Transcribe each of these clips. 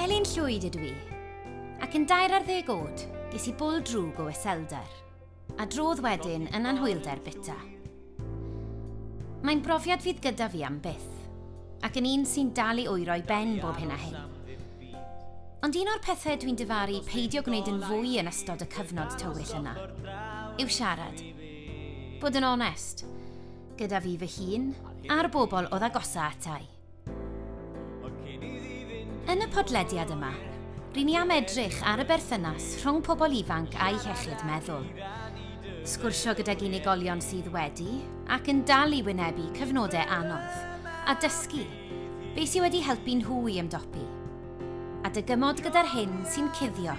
Elin Llwyd ydw i, ac yn dair ar ddeg oed, ges i bwl drwg o iselder, a drodd wedyn yn anhwylder bita. Mae'n brofiad fydd gyda fi am byth, ac yn un sy'n dal i wyro i ben bob hyn a hyn. Ond un o'r pethau dwi'n difaru peidio gwneud yn fwy yn ystod y cyfnod tywyll yna yw siarad. Bod yn onest, Gyda fi fy hun, a'r bobl oedd agosa atai. Yn y podlediad yma, rydyn ni am edrych ar y berthynas rhwng pobl ifanc a'i hechyd meddwl. Sgwrsio gydag unigolion sydd wedi ac yn dal i wynebu cyfnodau anodd, a dysgu beth sydd wedi helpu nhw i ymdopi, a dygymod gyda'r hyn sy'n cuddio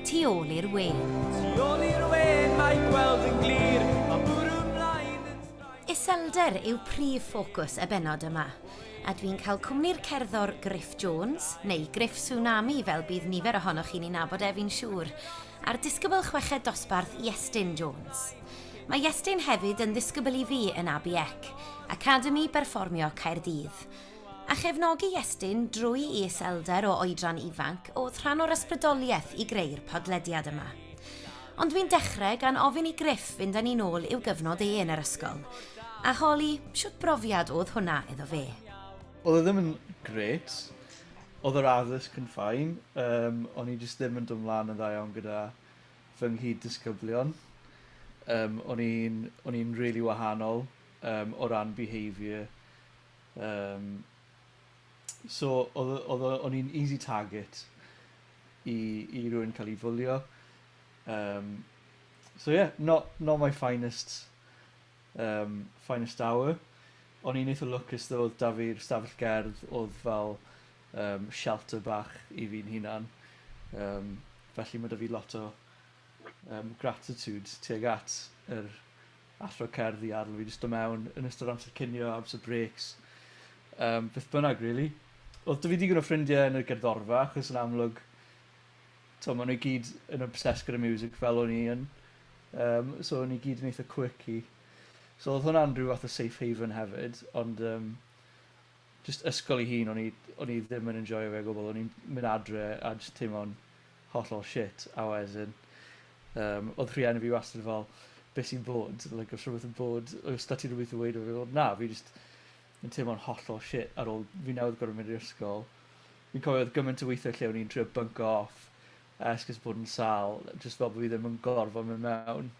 Tu ôl i'r wen. Tu ôl i'r wen mae gweld yn glir, mae bwrw mlaen yn straen. Iselder yw prif ffocws y bennod yma, a dwi'n cael cwmni'r cerddor Griff Jones, neu Griff Tsunami fel bydd nifer ohonoch chi'n ei nabod ef fi'n siŵr, a'r disgybl chweched dosbarth Iestyn Jones. Mae Iestyn hefyd yn ddisgybl i fi yn ABEC, Academi Berfformio Caerdydd, A chefnogi Iestyn drwy i iselder o oedran ifanc oedd rhan o'r ysbrydoliaeth i greu'r podlediad yma. Ond dwi'n dechrau gan ofyn i Griff fynd â ni'n ôl i'w gyfnod e yn yr ysgol, a holi shwt brofiad oedd hwnna iddo fe. Oedd e ddim yn grêt. Oedd yr addysg yn fine, yym, o'n i jyst ddim yn dod 'mlan yn dda iawn gyda fy nghyd-disgyblion. Yym, o'n i'n o'n i'n rili wahanol, yym, o ran behaviour. Yym so odd o odd o o'n i'n easy target i i rywun ca'l 'i fwlio. Yym so ie not not my finest yym finest hour. O'n i'n eitha lwcus tho odd 'da fi'r stafell gerdd odd fel yym shelter bach i fi'n hunan yym felly ma' 'da fi lot o yym gratitude tuag at yr athro cerdd i adl fi jyst do mewn yn ystod amser cinio, amser breaks, yym beth bynnag rili. Odd 'da fi digon o ffrindie yn y gerddorfa achos yn amlwg t'o' ma' nw i gyd yn obsessed gyda miwsig fel o'n i yn. Yym so o'n ni gyd yn eitha quirky. So odd hwnna'n rhyw fath o safe haven hefyd ond yym jyst ysgol 'i hun o'n i o'n i ddim yn enjoio fe o gwbwl o'n i'n myn' adre a jyst teimlo'n Hollol shit, a wedyn yym o'dd rhieni fi wastad fel be' sy'n bod, like o's rhwbeth yn bod, oes 'da ti rwbeth i weud wrth i fi fel na fi jyst yn teimlo'n hollol shit ar ôl fi newydd gor'o' mynd i'r ysgol. Fi'n cofio o'dd gyment o weithie lle o'n i'n trio bynco off esgus bod yn sâl jyst fel bo' fi ddim yn gorfod myn' mewn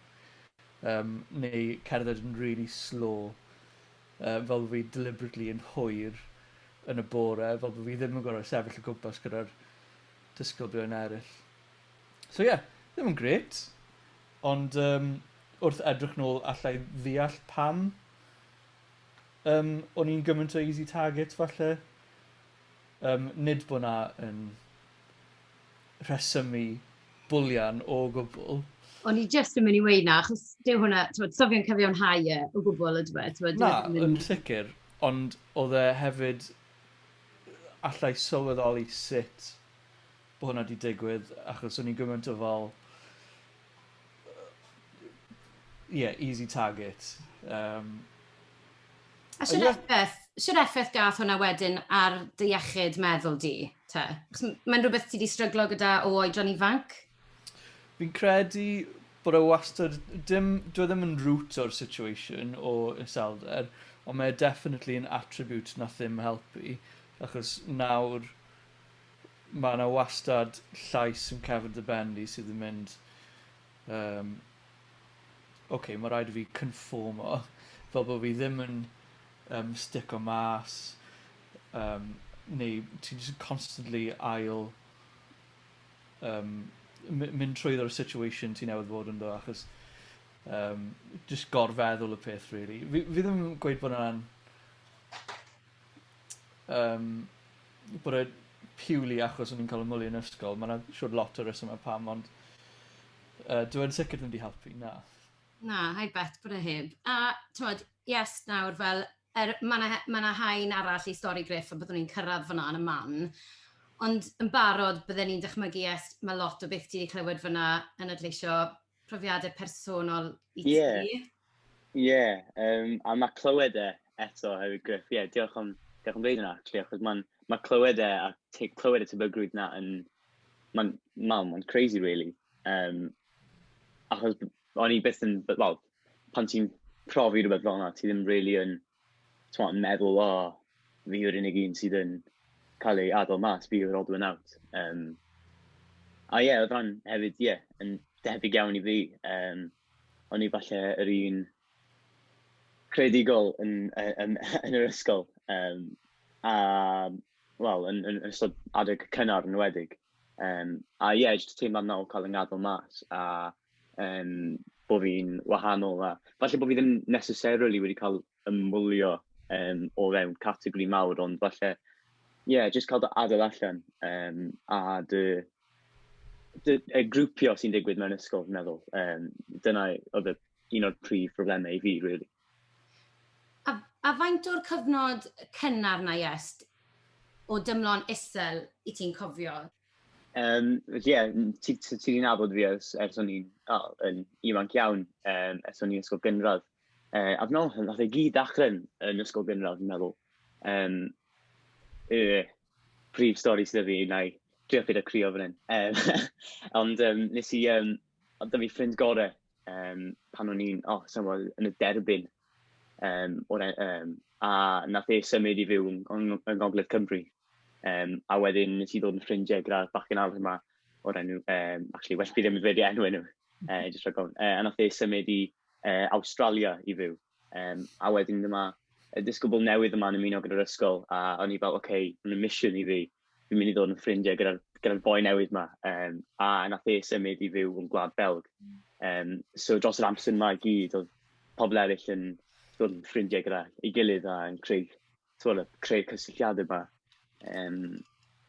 yym neu cerdded yn rili slô yy fel bo' fi deliberately yn hwyr yn y bore fel bo' fi ddim yn gor'o' sefyll o gwmpas gyda'r disgyblion eraill. So ie, ddim yn grêt, ond yym wrth edrych nôl alla i ddeall pam yym o'n i'n gymaint o easy target falle. Yym nid bod 'na yn rhesymu bwlian o gwbl. O'n i jyst yn mynd i weud 'na, achos dyw hwnna, t'mod, so fe'n cyfiawnhau e o gwbl, yndyw e? T'mod, dyw e ddim yn... Na, yn sicr, ond o'dd e hefyd allai sylweddoli sut bo hwnna di digwydd achos o'n i'n gymaint o fel ie easy target um, A sy'n effaith, sy'n effaith gath hwnna wedyn ar dy iechyd meddwl di, te? Mae'n rhywbeth ti di stryglo gyda o oedran ifanc? Fi'n credu bod e wastad... Dim... Dyw e ddim yn root o'r situation o iselder, ond mae e definitely yn attribute nath ddim helpu, achos nawr ma' 'na wastad llais yn cefn dy ben di sydd yn mynd yym ok, ma' raid i fi cynfformo fel bo' fi ddim yn yym stico mas yym neu ti jyst yn constantly ail yym my- mynd trwyddo'r situation ti newydd fod ynddo achos yym jyst gorfeddwl y peth rili. Fi fi ddim yn gweud bod yna'n yym bod e purely achos o'n i'n ca'l 'yn mwlio yn ysgol ma' 'na siŵr lot o resyme pam ond yy dyw e'n sicir ddim 'di helpu na. Na I bet bod e heb a t'mod yes nawr fel Er, mae 'na, mae 'na haen arall i stori Griff a byddwn ni'n cyrraedd fan'na yn y man, ond yn barod bydden ni'n dychmygu est mae lot o beth ti wedi clywed fan'na yn adleisio profiadau personol i ti. Ie, ie, um, a mae clywed e eto hefyd Griff, ie, diolch am, diolch am ddeud yna, actually, achos mae'n ma clywed e a te, clywed y tebygrwydd na yn, mae'n, mae'n, mae'n crazy really. Um, achos o'n i byth yn, wel, pan ti'n profi rhywbeth fel 'na, ti ddim rili yn, timod, yn meddwl, o, fi yw'r unig un sydd yn cael ei adael mas, fi yw'r odd one out. Yym, a ie, oedd hwnna'n hefyd, ie, yn debyg iawn i fi. Yym, o'n i falle yr un creadigol yn yy yn yn yr ysgol, yym, a, wel, yn yn yn ystod adeg cynnar yn enwedig. Yym, a ie, jyst y teimlad 'na o cael fy ngadael mas a... um, bod fi'n wahanol a falle bod fi ddim necessarily wedi cael ymwylio um, o fewn categori mawr, ond falle, ie, yeah, jyst cael dy adael allan um, a dy, dy, y grwpio sy'n digwydd mewn ysgol, fi'n meddwl. Um, dyna oedd un o'r prif problemau i fi, really. A, a faint o'r cyfnod cynnar na jest o dymlon isel i ti'n cofio? Yym, ie, ti ti ti 'di nabod fi ers ers o'n i'n, o, yn ifanc iawn, yym, ers o'n i'n ysgol gynradd. Yy, a dwi'n meddwl wnaeth e gyd ddechrau yn yn ysgol gynradd, dwi'n meddwl. Yym, y prif stori sydd 'da fi, wna i drio peidio crio fan hyn. Yym, ond yym, wnes i, yym, oedd 'da fi ffrind gorau yym pan o'n i'n, o, sa i'n gwybod, yn y derbyn. um, o'r, um, a nath e symud i fyw yn, yn, yn Ngogledd Cymru. Um, a wedyn nes i ddod yn ffrindiau gyda'r bachgen arall yma o'r enw, um, actually, well fi ddim yn dweud enw enw, uh, just rhaid gofyn. Uh, a nath e symud i uh, Australia i fyw. Um, a wedyn dyma, y disgybl newydd yma'n ymuno gyda'r ysgol, a o'n i fel, oce, okay, mae'n mission i fi, fi'n mynd i ddod yn ffrindiau gyda'r gyda boi newydd yma, um, a nath e symud i fyw yn Gwlad Belg. Um, so dros yr amser yma i gyd, oedd pobl eraill yn dod yn ffrindiau gyda ei gilydd a yn creu, twyd, creu cysylltiadau yma. Um,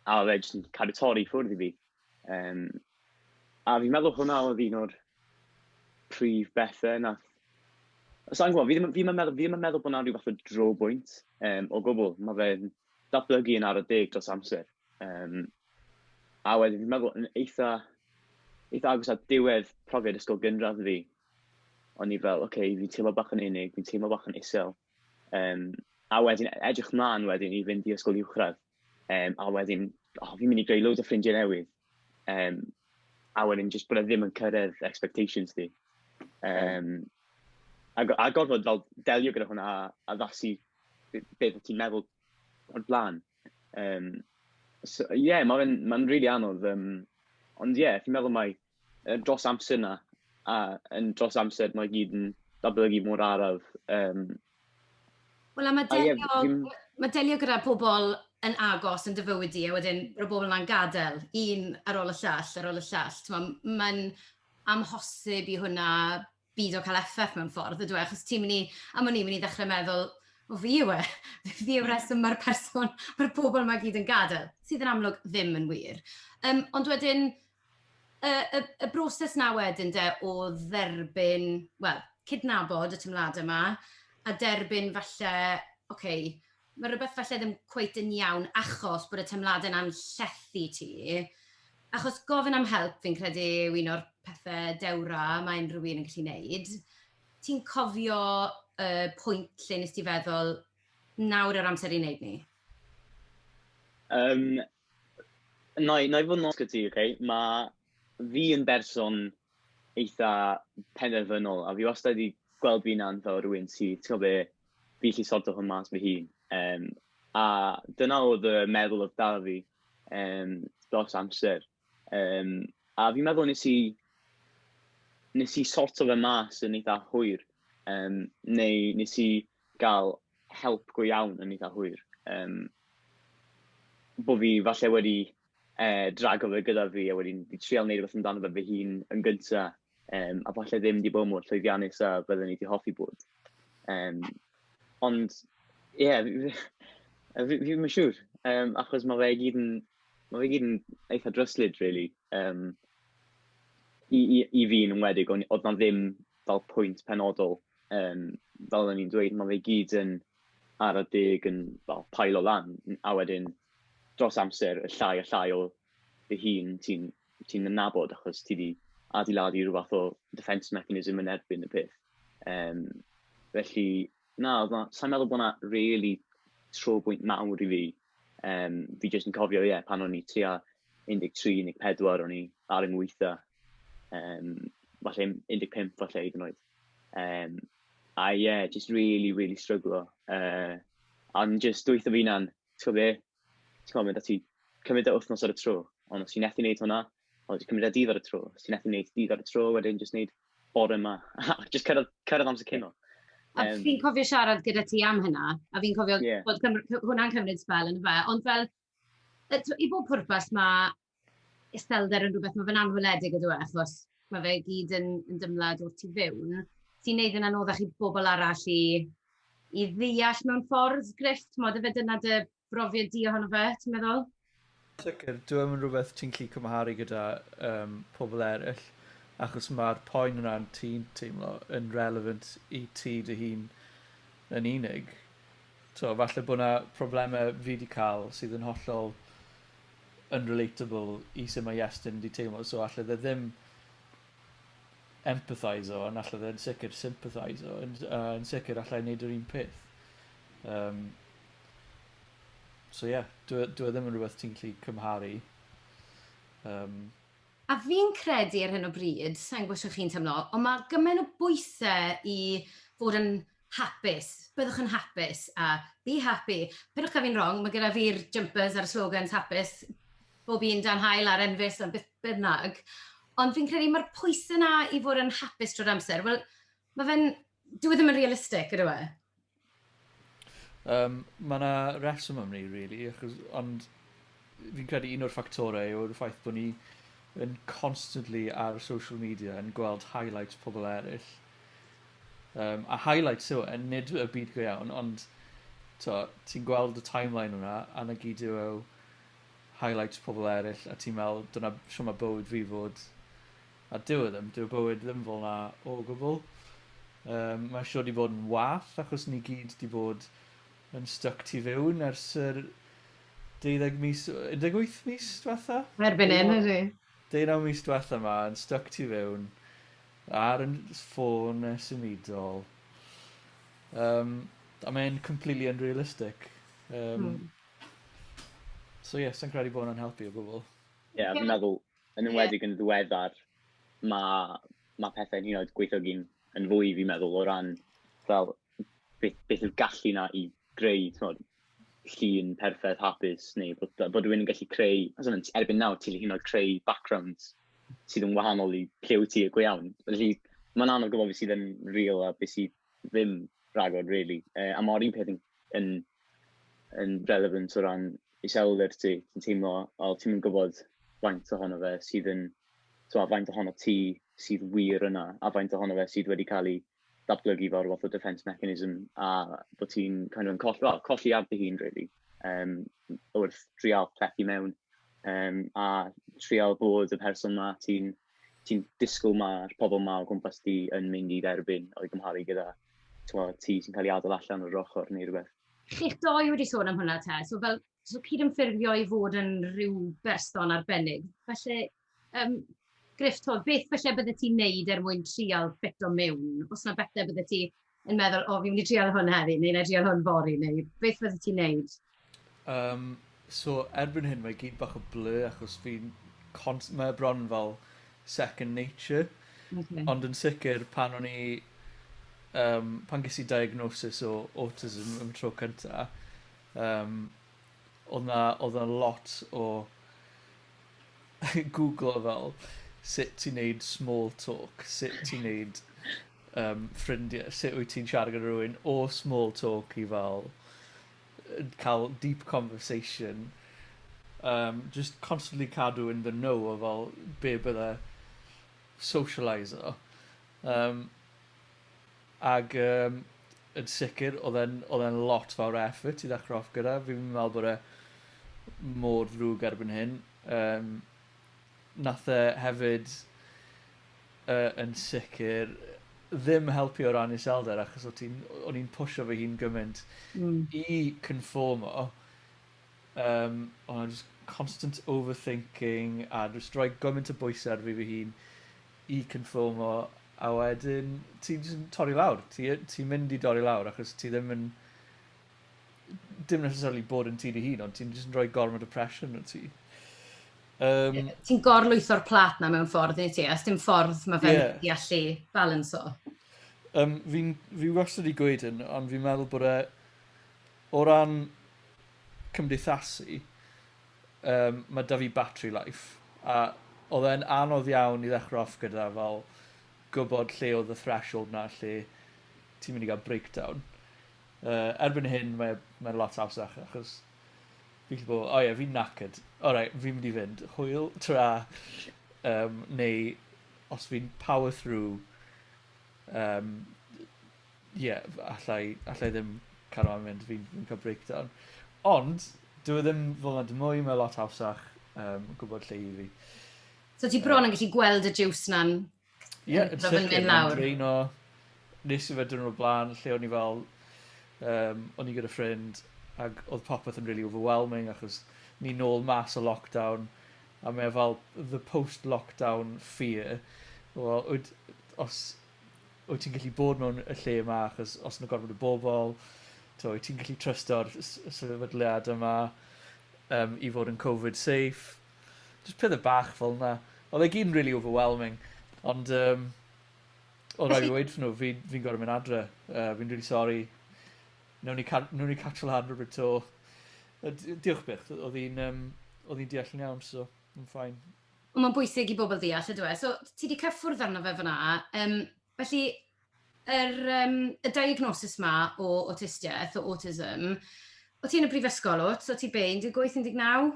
a oedd e jyst yn cadw torri ffwrdd i fi. Um, a fi'n meddwl hwnna oedd un o'r prif bethau na... Sa'n gwybod, fi ddim, fi ddim, meddwl, fi ddim yn meddwl bod yna rhywbeth o dro bwynt um, o gwbl. Mae fe'n datblygu yn ar y deg dros amser. Um, a wedyn, fi'n meddwl yn eitha, eitha agos at diwedd profiad ysgol gynradd fi, o'n i fel, oce, okay, fi'n teimlo bach yn unig, fi'n teimlo bach yn isel. Um, a wedyn, edrych mlaen wedyn i fynd i ysgol uwchradd. Um, a wedyn, oh, fi'n mynd i greu loads o ffrindiau newydd. Um, a wedyn, just bod e ddim yn cyrraedd expectations di. Um, a, a gorfod fel delio gyda hwnna a, a ddasu beth ti'n meddwl o'r blaen. Um, so, yeah, mae'n ma, rili really anodd. Um, ond ie, yeah, fi'n meddwl mae Yn dros amser yna, a yn dros amser mae gyd yn datblygu mor araf. Um, Wel, a mae delio, a ie, mae delio gyda pobl yn agos yn dyfywyd i, a wedyn roedd bobl yma'n gadael, un ar ôl y llall, ar ôl y llall. Mae'n amhosib i hwnna byd o cael effaith mewn ffordd ydw e, achos ti'n mynd i... am wn i'n mynd i ddechrau meddwl "o fi yw e, fi yw'r rheswm mae'r person... mae'r pobl 'ma i gyd yn gadael", sydd yn amlwg ddim yn wir. Yym, ond wedyn y y y broses 'na wedyn de o dderbyn, wel, cydnabod y teimladau 'ma a derbyn falle, ocê, Mae rhywbeth falle ddim cweit yn iawn achos bod y teimladau'n anllethu ti. Achos gofyn am help fi'n credu yw un o'r pethe dewra mae unrhyw un yn gallu neud. Ti'n cofio y pwynt lle nes ti feddwl, nawr yw'r amser i neud ni? Um, na i, na i fod yn osgyd ti, okay? Mae fi yn berson eitha penderfynol, a fi wastad wedi gweld fi'n anfa o rhywun sydd, ti'n gwybod be, fi allu sorto hwn mas fy hun. Um, a dyna oedd y meddwl oedd da fi um, dros amser. Um, a fi'n meddwl nes i, nes i sorto fe mas yn eitha hwyr, um, neu nes i gael help go iawn yn eitha hwyr. Um, bod fi falle wedi yy, drago fe gyda fi, a wedyn i trial wneud rhywbeth amdano fe fy hun yn gynta, um, a falle ddim wedi bod mor llwyddiannus a byddwn i wedi hoffi bod. Um, ond, ie, yeah, fi ddim yn siŵr, um, achos mae fe gyd yn, mae fe gyd yn eitha dryslyd, really. Um, i, i, I fi yn ymwedig, ond oedd na ddim fel pwynt penodol, um, fel o'n i'n dweud, mae fe gyd yn ar y deg yn fel pael o lan, a wedyn dros amser, y llai a llai o dy hun ti'n ti nabod, achos ti wedi adeiladu rhywbeth o defence mechanism yn erbyn y peth. Um, felly, na, sa'n meddwl bod yna really tro bwynt mawr i fi. Um, fi jyst yn cofio, ie, yeah, pan o'n i tua 13, 14, o'n i ar yng ngweitha. Um, falle 15, falle hyd yn oed. Um, a ie, yeah, just really, really struggle. Uh, A'n just dwytho fi na'n ti'n gwybod be, ti'n gwybod, mae 'da ti cymryd e wythnos ar y tro, ond os ti'n methu wneud hwnna, o, jyst cymryd e dydd ar y tro, os ti'n methu wneud dydd ar y tro, wedyn jyst wneud bore yma, a jyst cyrraedd, cyrraedd amser cyn hwnna. A um, fi'n cofio siarad gyda ti am hynna, a fi'n cofio yeah. bod hwnna'n cymryd spel yn y fe, ond fel, i bob pwrpas mae iselder yn rhywbeth, mae fe'n anweledig ydw e, achos mae fe gyd yn, yn dymlad o'r tu fewn, sy'n neud yn anoddach i bobl arall i, i ddeall mewn ffordd, Griff, tmod, efe dyna dy brofiad di ohono fe, ti'n meddwl? Sicr, dyw e'm yn rhywbeth ti'n gallu cymharu gyda um, pobl eraill, achos mae'r poen yna ti'n teimlo yn relevant i ti dy hun yn unig. So, falle bod yna problemau fi wedi cael sydd yn hollol yn relatable i sut mae Iestyn 'di teimlo so alle fe ddim empatheiso ond alle fe'n sicr sympatheiso yn s- yy yn sicr alla i neud yr un peth. Yym. So ie dyw e dyw e ddim yn rwbeth ti'n gallu cymharu. Yym. A fi'n credu ar hyn o bryd, sai'n gwbo shwt chi'n teimlo, ond ma' gymen' o bwyse i fod yn Hapus. Byddwch yn hapus a be happy. Peidiwch cael fi'n wrong, mae gyda fi'r jumpers a'r slogans hapus bob un dan hael a'r enfys a beth bynnag. Ond fi'n credu mae'r pwysau yna i fod yn hapus drwy'r amser. Wel, mae fe'n... Dwi e ddim yn realistig, ydw e? Um, mae yna reswm am ni, really, achos, ond fi'n credu un o'r ffactorau yw'r ffaith bod ni yn constantly ar social media yn gweld highlights pobl eraill. Um, a highlights yw e, nid y byd go iawn, ond ti'n gweld y timeline hwnna, a na gyd yw e highlights pobl eraill, a ti'n meddwl, dyna sio mae bywyd fi fod. A dyw e ddim, dyw bywyd ddim fel na o gwbl. Um, mae sio di bod yn wath, achos ni gyd di bod yn stuck tu fewn ers yr deuddeg mis, un deg wyth mis diwetha? Erbyn hyn ydy. Deunaw mis diwetha ma, yn stuck tu fewn, ar yn ffôn e symudol. Um, a mae'n completely unrealistic. Um, hmm. So ie, yeah, sy'n credu bod hwnna'n helpu o gwbl. Ie, yeah, fi'n meddwl, yn ymwedig yn ddiweddar, mae ma pethau'n hyn oed gweithiogi'n yn fwy, fi'n meddwl, o ran fel beth, beth yw'r gallu na i greu, tmod, llun perffaith hapus neu bod yy bod rywun yn gallu creu, os na t- erbyn nawr ti 'llu hyd yn oed creu backgrounds sydd yn wahanol i lle wyt ti go iawn. Felly, mae'n anodd gwybod be sydd yn real a be sydd ddim rhagor rili. Yy a ma'r un peth yn yn yn relevant o ran iselder ti. Ti'n teimlo fel ti'm yn gwybod faint ohono fe sydd yn, tibod, faint ohono ti sydd wir yna a faint ohono fe sydd wedi cael ei datblygu fel rhyw fath o defence mechanism, a bod ti'n kind of colli, well, colli ar dy hun, really, um, wrth trial plethu mewn, um, a trial bod y person ma ti'n ti disgwyl mae'r pobl ma o gwmpas ti yn mynd i dderbyn o'i gymharu gyda ti sy'n cael ei adael allan o'r ochr neu rhywbeth. Chi'ch doi wedi sôn am hwnna te, so fel so cyd-ymffurfio i fod yn rhyw berson arbennig. Felly, Yym, Griff, tibod, beth falle byddet ti'n neud er mwyn trial ffito mewn? Os na bethau byddet ti yn meddwl, o, fi'n mynd i trial hwn heddi, neu na i trial hwn fory, neu beth fyddet ti'n neud? Um, so, erbyn hyn, mae gyd bach o blur, achos fi'n... Const... Mae e bron fel second nature. Okay. Ond yn sicr, pan o'n i... Um, pan ges i diagnosis o autism yn y tro cyntaf, um, oedd na, oedd na lot o Googlo fel sut i neud small talk, sut ti neud um, ffrindiau, sut wyt ti'n siarad gyda rhywun o small talk i fel cael deep conversation. Um, just constantly cadw in the know o fel be bydde socialiser. Um, Ac yym yn sicr oedd e'n oedd e'n lot fawr o effort i ddechrau off gyda. Fi'm yn meddwl bod e mor ddrwg erbyn hyn. Um, nath e hefyd uh, yn sicr ddim helpu o ran iselder achos o'n i'n o'n i'n pwysio fy hun gymaint mm. i conformo um, o'n just constant overthinking a just rhoi gymaint o bwysau ar fi fy hun i confyrmo a wedyn ti'n jyst yn torri lawr. Ti yy ti'n mynd i dorri lawr achos ti ddim yn dim necessarily bod yn ti dy hun ond ti'n jyst yn rhoi gormod o pressure arnot ti. Um, yeah. Ti'n gorlwytho'r plat na mewn ffordd neu ti, a sdim ffordd mae fe'n yeah. i allu balanso. Um, fi, fi wastad wedi gweud hyn, ond fi'n meddwl bod e o ran cymdeithasu, Yym ma' 'da fi battery life. A odd e'n anodd iawn i ddechre off gyda fel gwbod lle odd y threshold 'na lle ti'n mynd i ga'l breakdown. Yy erbyn hyn mae e mae'n lot hawsach achos fi'n gallu bod fel o ie fi'n knackered alright fi'n mynd i fynd. Hwyl twra. Yym neu os fi'n power through yym ie, alla i alla i ddim cario mlan mynd fi'n fi'n ca'l breakdown. Ond dyw e ddim fel 'na dim mwy mae lot hawsach yym gwbod lle i fi. So ti bron yn gallu gweld y jiws 'na'n Ie yn sicr yn lawr. draeno. Nes i fe diwrnod o bla'n lle o'n i fel yym o'n i gyda ffrind ag o'dd popeth yn rili overwhelming achos ni nôl mas o lockdown a mae e fel the post lockdown fear wel wyt os wyt ti'n gallu bod mewn y lle yma achos os yna gormod o bobl t'o' wyt ti'n gallu trysto'r s- y sefydliad yma yym i fod yn Covid safe. Jys pethe bach fel 'na. Odd e gyd yn rili overwhelming ond yym odd raid fi weud wrthyn n'w fi fi'n gor'o' myn' adre yy fi'n rili sori. Newn ni ca- newn ni catch lan rwbryd 'to. Yy d- yy diolch byth. Odd 'i'n yym odd 'i'n deall yn iawn so ma'n fine. Ond mae'n bwysig i bobl ddeall, yndyw e? So, ti 'di cyffwrdd arno fe fan'na. Yym, felly, yr yym, y diagnosis 'ma o awtistiaeth, o autism, o' ti yn y brifysgol, o't? O' ti be', 18, 19?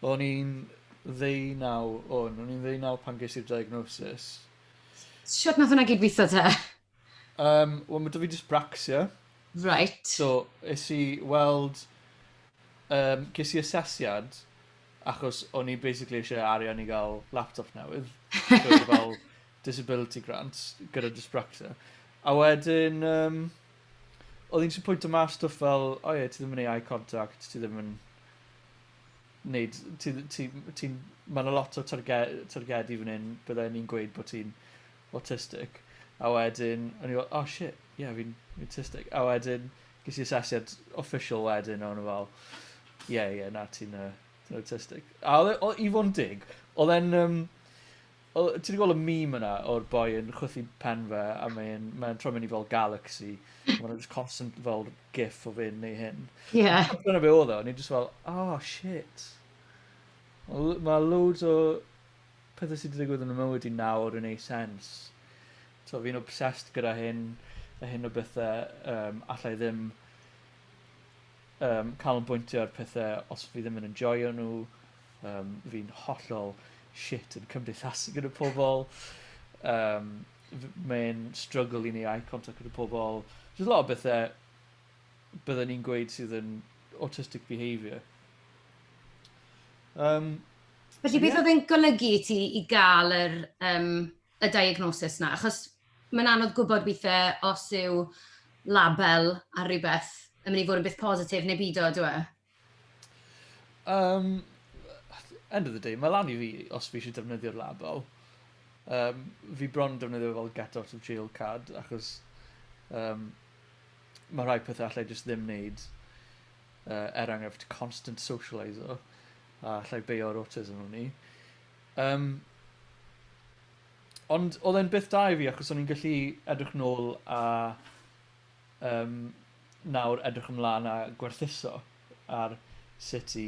O'n i'n ddeunaw, o'n. O'n i'n ddeunaw pan ges i'r diagnosis. Shwt nath hwnna gyd-witho te? Yym wel ma' 'da fi dysbracsia. Reit. So es i weld yym ges i asesiad achos o'n i basically isie arian i ga'l laptop newydd. So o'n i fel disability grant gyda dysbracsia. A wedyn yym odd un js yn pwynto mas stwff fel o ie ti ddim yn neu' eye contact ti ddim yn neud ti ddi- ti m- ti'n ma' 'na lot o targe- targedi fyn 'yn bydde un gweud bo' ti'n awtistig, a wedyn o'n i fel oh shit ie fi'n awtistig, a wedyn ges i asesiad official wedyn a o'n nhw fel ie ie na ti'n yy ti'n awtistig. A oedd e o- i fod yn deg oedd e'n yym o- ti 'di gweld y meme yna o'r boi yn chwythu pen fe a mae'n mae'n troi mewn i fel galaxy a ma' 'na jyst constant fel gif o fe'n neu hyn. Ie. Dyna be oedd o o'n i jyst fel oh shit. Ma' l- ma' loads o Pethau sydd 'di digwydd yn 'y mywyd i nawr yn neu' sens. T'o' fi'n obsessed gyda hyn a hyn o bethe yym alla i ddim yym canolbwyntio ar pethe os fi ddim yn enjoio n'w yym fi'n hollol shit yn cymdeithasu gyda pobol yym f- mae'n strygl i neu' eye contact gyda pobol. Jys lot o bethe bydden ni'n gweud sydd yn autistic behaviour. Um, Felly so, beth yeah. oedd e'n golygu i ti i gael yr, um, y diagnosis yna? Achos mae'n anodd gwybod weithiau os yw label ar rhywbeth yn mynd i fod yn beth positif neu byd o, dwi e? Yym end of the day ma' lan i fi os fi isie defnyddio'r label. Yym fi bron yn defnyddio fel get out of jail card achos yym ma' rhai pethe allai jyst ddim neud yy er enghraifft constant socialiso a allai beio ar autism wn i. Yym. Ond odd e'n beth da i fi achos o'n i'n gallu edrych nôl a Yym, nawr edrych ymlaen a gwerthuso ar sut i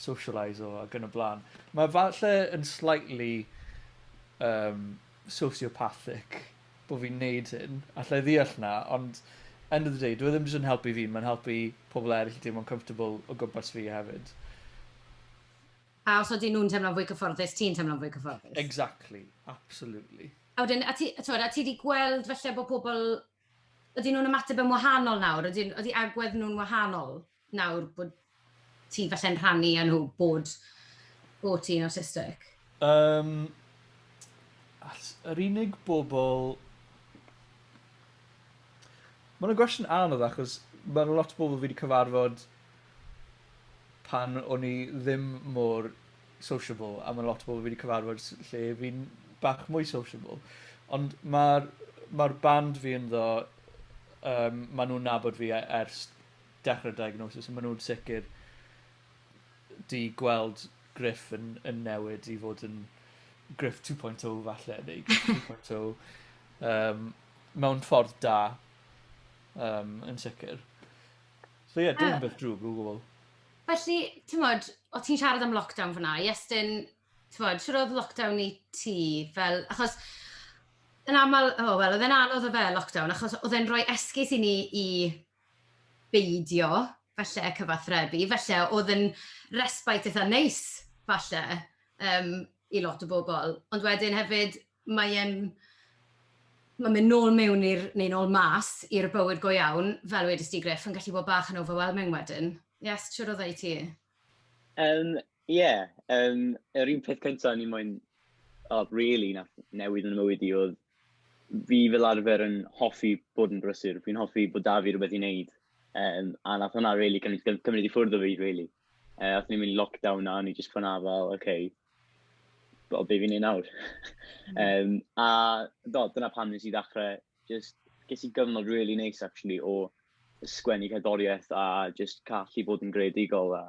socialise-o ac yn y blaen. Mae falle yn slightly yym sociopathic bo fi'n neud hyn, allai ddeall 'na, ond end of the day dyw e ddim jyst yn helpu fi, mae'n helpu pobl eryll i deimlo'n comfortable o gwmpas fi hefyd. A os ydyn nhw'n teimlo'n fwy cyfforddus, ti'n teimlo'n fwy cyfforddus. Exactly, absolutely. A wedyn, a ti, t'mod, a ti 'di gweld falle bo' pobl Ydyn nhw'n ymateb yn wahanol nawr? Ydyn, ydy agwedd nhw'n wahanol nawr bod ti falle'n rhannu â nhw bod, bod ti'n awtistig? Um, yr unig bobl... Mae'n gwestiwn anodd achos mae'n lot o bobl fi wedi cyfarfod pan o'n i ddim mor sociable a ma' lot o bobl fi 'di cyfarfod s- lle fi'n bach mwy sociable ond ma'r ma'r band fi ynddo yym ma' nw'n nabod fi e- ers dechre'r diagnosis a ma' nw'n sicir 'di gweld Gruff yn yn newid i fod yn Gruff two point oh falle neu Gruff three point oh yym mewn ffordd da yym yn sicir. So ie dim yn beth drwg o gwbwl. Felly, ti'n modd, o ti'n siarad am lockdown fyna, Iestyn, ti'n modd, siwr oedd lockdown i ti, fel, achos, yn aml, o, oh, wel, oedd e'n anodd o fe, lockdown, achos oedd e'n rhoi esgus i ni i beidio, felly, cyfathrebu, felly, oedd yn respite eitha neis, falle, um, i lot o bobl. Ond wedyn hefyd, mae e'n... mae'n mynd nôl mewn i'r... neu nôl mas i'r bywyd go iawn, fel wedest ti Griff, yn gallu bod bach yn overwhelming wedyn. Yes, siŵr oedd e i ti? Yym, ie. Yym, yr un peth cynta o'n i moyn, o, rili, nath newid yn 'y mywyd i o'dd fi fel arfer yn hoffi bod yn brysur, fi'n hoffi bod 'da fi rwbeth i neud, yym, a nath hwnna rili cymryd cymryd i ffwrdd o fi rili. Yy, aethon ni mewn i lockdown a o'n i jyst ffwrdd â fel, ok, Wel, be fi'n ei nawr. um, a do, dyna pan nes i ddechrau, just, ges i gyfnod really neis, actually, o sgwennu cerddoriaeth a just callu bod yn greadigol. A,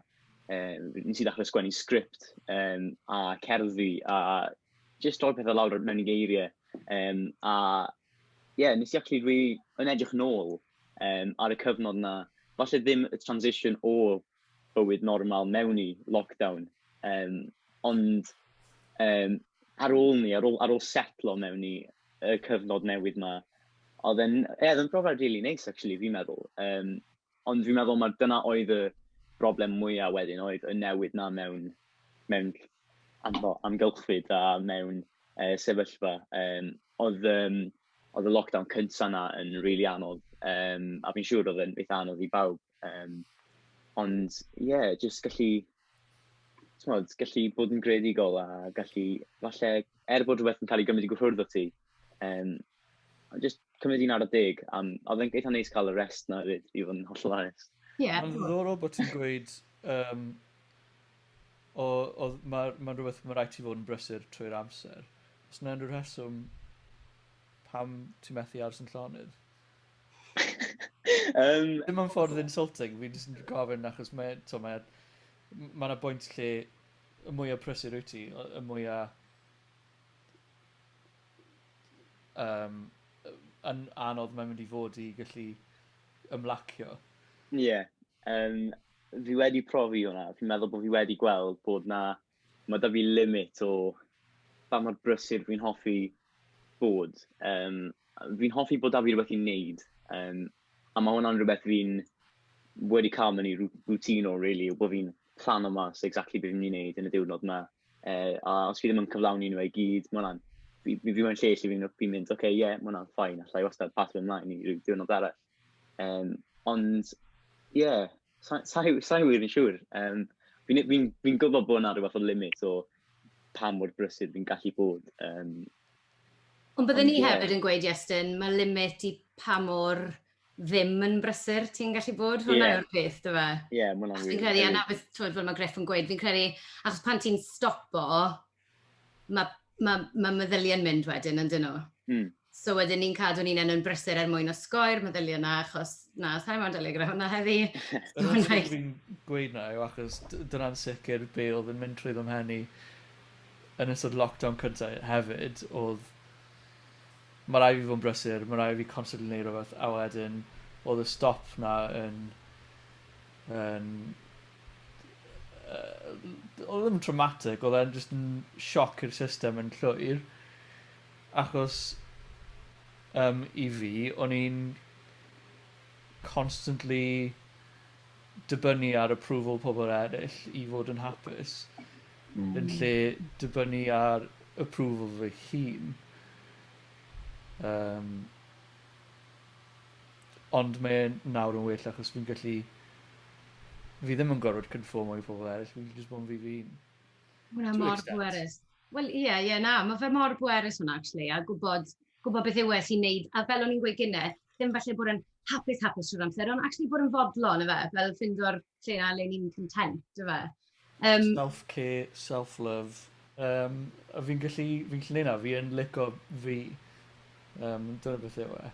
um, nes i ddechrau sgwennu sgript um, a cerddi a just roi pethau lawr mewn i geiriau. Um, a, ie, yeah, nes i actually really, yn edrych nôl um, ar y cyfnod yna, falle ddim y transition o bywyd normal mewn i lockdown, yym, ond, yym, ar ôl 'ny, ar ôl ar ôl setlo mewn i y cyfnod newydd 'ma, oedd e'n, ie, oedd e'n brofiad rili neis actually fi'n meddwl, yym, ond fi'n meddwl mai dyna oedd y broblem mwya' wedyn oedd y newid 'na mewn mewn amho- amgylchfyd a mewn yy sefyllfa, yym, oedd yym oedd y lockdown cynta 'na yn rili anodd, yym, a fi'n siŵr oedd e'n eitha' anodd i bawb. Yym, ond ie, jyst gallu, timod, gallu bod yn greadigol a gallu falle, er bod rhywbeth yn cael ei gymryd i gwrthwyrdd o ti, yym, a jyst cymryd un ar y deg. A oedd e'n eitha neis cael y rest 'na 'fyd, i fod yn hollol onest. Ie. Mae'n ddiddorol bod ti'n gweud yym o oedd ma' mae'n rhywbeth mae'n rhaid ti fod yn brysur trwy'r amser. Oes 'na unrhyw rheswm pam ti methu aros yn llonydd? um, Dim ond ffordd insulting, fi'n just gofyn achos mae, to, mae, mae yna bwynt lle y mwyaf prysur wyt ti, y mwyaf um, yn anodd mae'n mynd i fod i gallu ymlacio. Ie, yeah. um, fi wedi profi hwnna, fi'n meddwl bod fi wedi gweld bod na Mae 'da fi limit o ba mor brysur dwi'n hoffi bod. Yym, fi'n hoffi bod 'da fi rhywbeth i wneud, yym, a mae hwnna'n rhywbeth fi'n wedi cael mewn i routine o rili, yw bod fi'n plano mas exactly be fi'n mynd i wneud yn y diwrnod 'ma. Yy, a os fi ddim yn cyflawni nhw i gyd, mae hwnna'n... fi fi mewn lle lle fi'n mynd, ok, ie, mae hwnna'n fine, alla i wastad pasio ymlaen i ryw diwrnod arall. Um, ond, ie, yeah, sa, sa, sa wir yn siŵr. Um, fi'n fi, n, fi n gwybod bod yna rhywbeth o limit o pa mor brysur fi'n gallu bod. Um, ond byddwn ni yeah. hefyd yn gweud, Iestyn, mae limit i pa mor ddim yn brysur ti'n gallu bod. Hwna yeah. yw'r peth, dy fe? Ie, yeah, mae'n wir. Fi'n credu, a na beth, twyd, fel mae Griff yn gweud, fi'n credu, achos pan ti'n stopo, mae ma, ma meddyliau'n mynd wedyn, yn dyn nhw. Mm. So wedyn ni'n cadw ni'n enw'n brysur er mwyn osgoi'r meddyliau yna, achos na, sa'i mo'n dyleg gyda hwnna heddi. Dyna'n sicr fi'n gweud na yw, achos dyna'n sicr be oedd yn mynd trwy ddim hen i yn ystod lockdown cyntaf hefyd, oedd mae rai fi fod yn brysur, mae rai fi constantly neud rhywbeth, a wedyn oedd y stop na yn, yn yy oedd yn traumatic oedd e'n jyst yn sioc i'r system yn llwyr achos um, i fi o'n i'n constantly dibynnu ar approval pobl eraill i fod yn hapus mm. yn lle dibynnu ar approval fy hun um, Ond mae e nawr yn well achos fi'n gallu... Fi ddim yn gorfod cynffyrmo i pobl eraill, fi'n gallu jyst bod yn fi fy hun. Mae hwnna mor bwerus. Wel, ie, ie, na, mae fe mor bwerus hwnna, actually, a gwybod, gwybod beth yw e sy'n wneud, a fel o'n i'n gweud gynnau, ddim falle bod yn hapus, hapus trwy'r amser, ond actually bod yn fodlon, ife, fel ffeindo'r... lle na le ni'n content, dwi fe. Um, Self-care, self-love. Um, a fi'n gallu, fi'n gallu neud na, fi yn lico fi. Um, dyna beth yw e.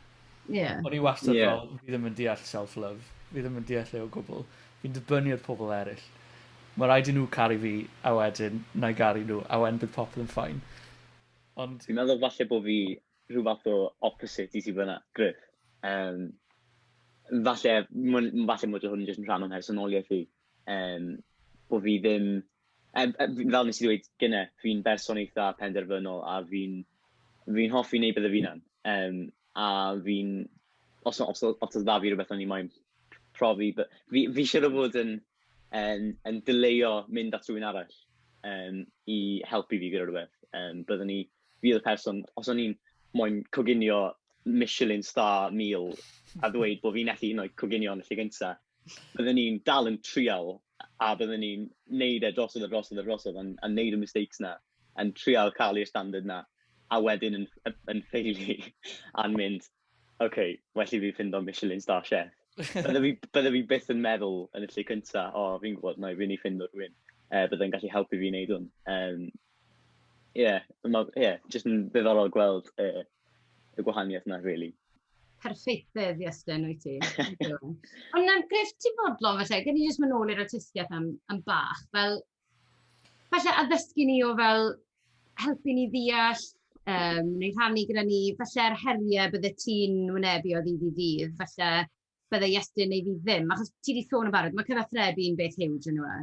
Yeah. O'n i wastad yeah. fel, fi ddim yn deall self-love. Fi ddim yn deall ei o gwbl. Fi'n dibynnu ar pobl eraill. Mae rhaid i nhw caru fi, a wedyn, na i garu nhw, a wedyn bydd popeth yn ffain. Ond... Fi'n meddwl falle bod fi rhyw fath o opposite i ti fyna, Griff. Um, falle, falle mod hwn yn jyst yn rhan o'n mhersonoliaeth i. Um, bod fi ddim... Um, fel nes i ddweud gyne, fi'n berson eitha penderfynol a fi'n fi hoffi wneud beth y fi'n am. Um, a fi'n... Os, os, os, os oedd dda fi rhywbeth o'n i moyn profi... Fi, fi eisiau rhywbeth fod yn, yn, yn dyleio mynd at rhywun arall um, i helpu fi gyda rhywbeth. Um, byddwn ni... fi oedd y person, os o'n i'n moyn coginio Michelin star meal a ddweud bod fi'n methu hyd yn oed coginio yn y lle gynta, bydden i'n dal yn trial a bydden i'n neud e drosodd a drosodd a drosodd a a neud y mistakes 'na, yn trial cael i'r standard 'na, a wedyn yn yn ffeilu a'n mynd OK, well i fi ffindo Michelin Star Chef. Bydde fi, bydde fi byth yn meddwl yn y lle cynta, o, oh, fi'n gwybod, na, fi'n ei ffindo rhywun. Uh, bydde yn gallu helpu fi wneud hwn. Um, yeah, ma, yeah, just yn ddiddorol gweld uh, y gwahaniaeth yna, really. Perfeithedd, Iestyn, wyt ti. Ond um, gref ti fodlon, felly, gen i jyst mynd nôl i'r artistiaeth am, am bach. Fel, Falle addysgu ni o fel, helpu ni ddeall, yym, neu rhannu gyda ni, falle'r heriau byddet ti'n wynebu o ddydd i ddydd, falle byddai Iestyn neu fi ddim, achos ti 'di sôn yn barod, mae cyfathrebu'n beth hiwj yndyw e?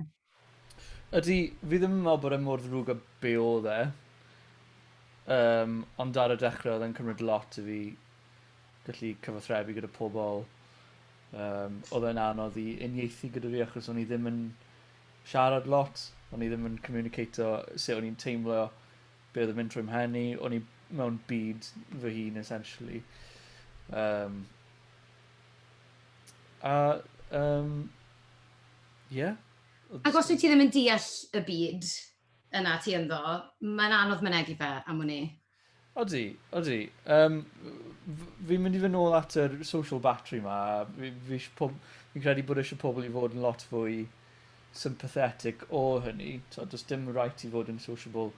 Ydy, fi ddim yn meddwl bod e mor ddrwg a be oedd e. Yym, ond ar y dechrau oedd e'n cymryd lot i fi gallu cyfathrebu gyda pobl. Yym, oedd e'n anodd i uniaethu gyda fi achos o'n i ddim yn siarad lot, o'n i ddim yn communicato sut o'n i'n teimlo, be' odd yn mynd trwy 'mhen i, o'n i mewn byd fy hun essentially. Um, a, um, yeah. Ac os wyt ti ddim yn deall y byd yna ti ynddo, mae'n anodd mynegi fe am wn i. Odi, odi. Um, fi'n mynd i fy nôl at yr social battery ma. Fi, fi, pob, fi'n credu bod eisiau pobl i fod yn lot fwy sympathetic o hynny. So, does dim rhaid i fod yn sociable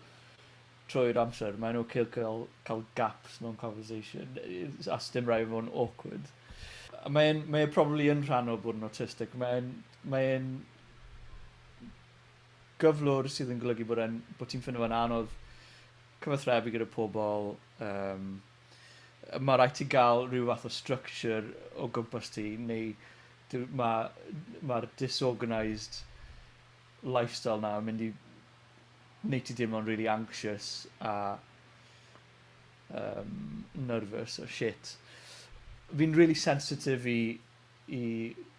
trwy'r amser. Mae'n o'r okay cael, cael gaps mewn conversation, a dim rhaid i fod yn awkward. Mae'n mae e probably yn rhan o bod yn autistic. Mae'n mae gyflwr sydd yn golygu bod e'n... Bod ti'n ffindo fe'n anodd cyfathrebu gyda pobl, yym, yy, ma' raid ti ga'l rhyw fath o structure o gwmpas ti neu dw- ma' ma'r disorganised lifestyle 'na yn mynd i neud ti deimlo'n rili anxious a yym nervous a shit. Fi'n rili sensitif i i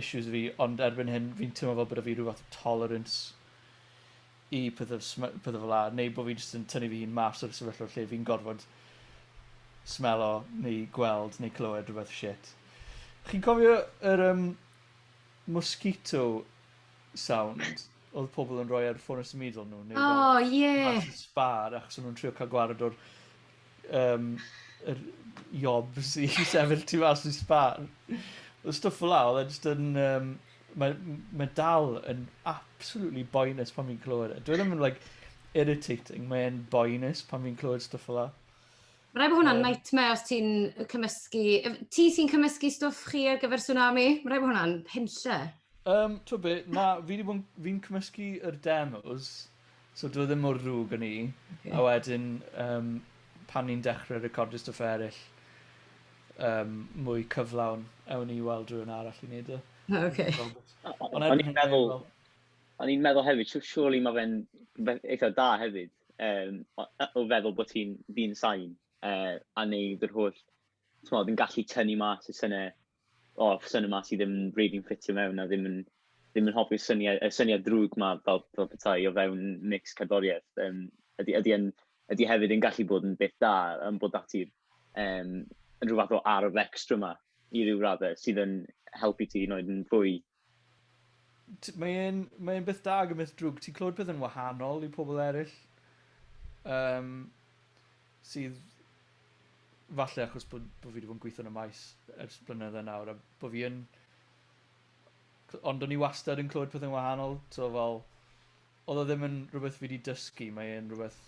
issues fi ond erbyn hyn fi'n teimlo fel bod 'da fi rhyw fath o tolerance i pethe sm- yy pethe fela neu bo' fi jyst yn tynnu fy hun mas o'r sefyllfa lle fi'n gorfod smelo neu gweld neu clywed rwbeth shit. Chi'n cofio yr yym mosquito sound odd pobol yn roi ar ffone symudol nw neu fel... O ie! ...mas y sbâr achos o'n nw'n trio ca'l gwared o'r um, yr jobs i sefyll tu fas i sbar. Oedd stwff fel la, oedd e just yn... Um, mae, mae dal yn absolutely boenus pan fi'n clywed e. Dwi e ddim yn, like, irritating. Mae'n boenus pan fi'n clywed stwff fel la. Mae rhaid bod hwnna'n um, nightmare os ti'n cymysgu... Ti sy'n cymysgu stwff chi ar gyfer tsunami? Mae rhaid bod hwnna'n penlle. Um, Twy be, na, fi'n fi, fi cymysgu yr demos So dyw e ddim mor ddrwg â 'ny. Oce. A wedyn yym pan ni'n dechre recordio stwff eryll yym mwy cyflawn ewn ni i weld rywun arall i neud e. O oce. Ond erbyn hyn dwi me'wl... O'n i'n meddwl hefyd siw- surely ma' fe'n fe- eitha da hefyd yym o yy o feddwl bo' ti'n ddyn sain yy a neud yr holl t'mod yn gallu tynnu mas y synne o, syniad yma sydd ddim rili'n ffitio mewn a ddim yn, ddim yn hoffi'r syniad, y syniad drwg yma fel, fel petai o fewn mix cerddoriaeth. Um, ydy, ydy, yn, ydy hefyd yn gallu bod yn beth da yn bod dati um, yn rhywbeth o arf extra yma i ryw raddau sydd yn helpu ti i wneud yn fwy T- mae e'n mae e'n beth da ag yn beth drwg ti'n clywed pethe'n wahanol i pobol eryll yym sydd falle achos bod bo' fi 'di bod yn gweitho yn y maes ers blynydde nawr a bo' fi yn c- ond o'n i wastad yn clywed pethe'n wahanol t'o' fel odd o ddim yn rwbeth fi 'di dysgu mae e'n rwbeth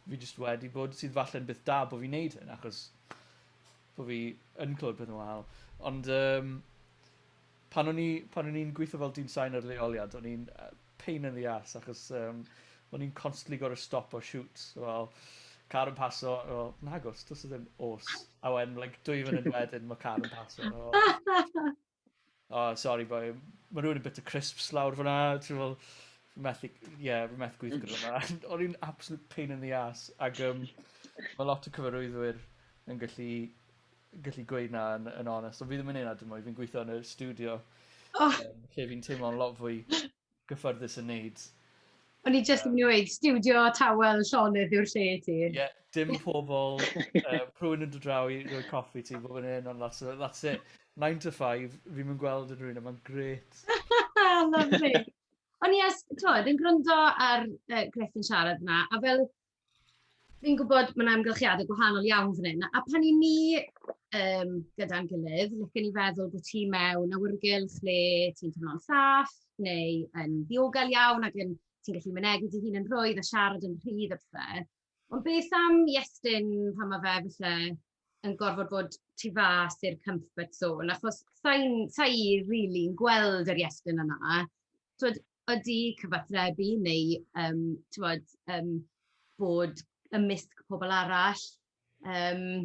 fi jyst wedi bod sydd falle'n beth da bo' fi'n neud hyn achos bo fi yn clywed pethau'n wahanol. Ond um, pan o'n i, pan o'n i'n gweithio fel dyn sain ar leoliad, o'n i'n uh, pain in the ass, achos um, o'n i'n constantly gorau stop o shoot. Well, car yn paso, o, oh, nagos, dos o ddim os. A wedyn, like, dwy fan yn wedyn, mae car yn paso. Oh. Oh sorry boi, mae rhywun yn bit of crisps lawr fyna, ti'n fel, fi methu, ie, fi methu gweithio gyda yma. O'n i'n absolute pain in the ass, ac um, mae lot o cyfarwyddwyr yn gallu, gallu gweud na yn, yn onest, ond fi ddim yn neud na dim mwy, fi'n gweithio yn y studio, oh. um, lle fi'n teimlo'n lot fwy gyffyrddus yn neud. O'n i jyst yn mynd i weud, stiwdio tawel llonydd yw'r lle i ti. Ie, dim pobl, yy, rhywun yn dod draw i roi coffi ti, bob yn hyn, ond that's, that's it. 9 to 5, fi'n mynd gweld yn rhywun yma'n gret. Lovely. Ond ie, t'mod, yn gwrando ar yy Gruff yn siarad yna, a fel, Fi'n gwybod mae 'na amgylchiadau gwahanol iawn fan hyn, a pan 'y ni yym gyda'n gilydd, licen i feddwl bod ti mewn awyrgylch lle ti'n teimlo'n saff, neu yn ddiogel iawn ac yn... ti'n gallu mynegi dy hun yn rhwydd a siarad yn rhydd a pethe. Ond beth am Iestyn pan mae fe falle yn gorfod bod tu fas i'r comfort zone, achos sa'i sa really yn gweld yr iestyn yna. Twyd, ydy cyfathrebu neu um, twyd, um, bod ymysg pobl arall um,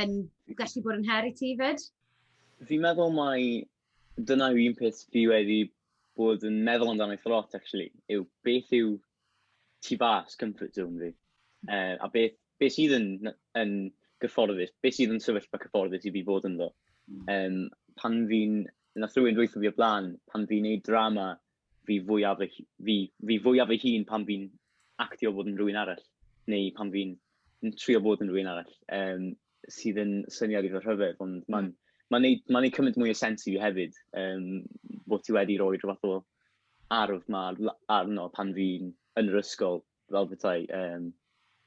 yn gallu bod yn her i ti fyd? Fi'n meddwl mai dyna yw un peth fi wedi bod yn meddwl amdano eithaf lot, actually, yw beth yw tu fas comfort zone fi. Uh, a beth, beth sydd yn, yn gyfforddus, beth sydd yn sefyllfa cyfforddus i fi fod ynddo. Um, pan fi'n, na rhywun dweithio fi o blaen, pan fi'n neud drama, fi fwyaf fy, fi, fi fwyaf fy hun pan fi'n actio bod yn rhywun arall, neu pan fi'n trio bod yn rhywun arall, um, sydd yn syniad i fy rhyfedd, ond hmm. mae'n ma neud, ma neud cymaint mwy o sens i fi hefyd, um, bod ti wedi rhoi rhywbeth o arf 'ma arno pan fi'n yn yr ysgol, fel petai yym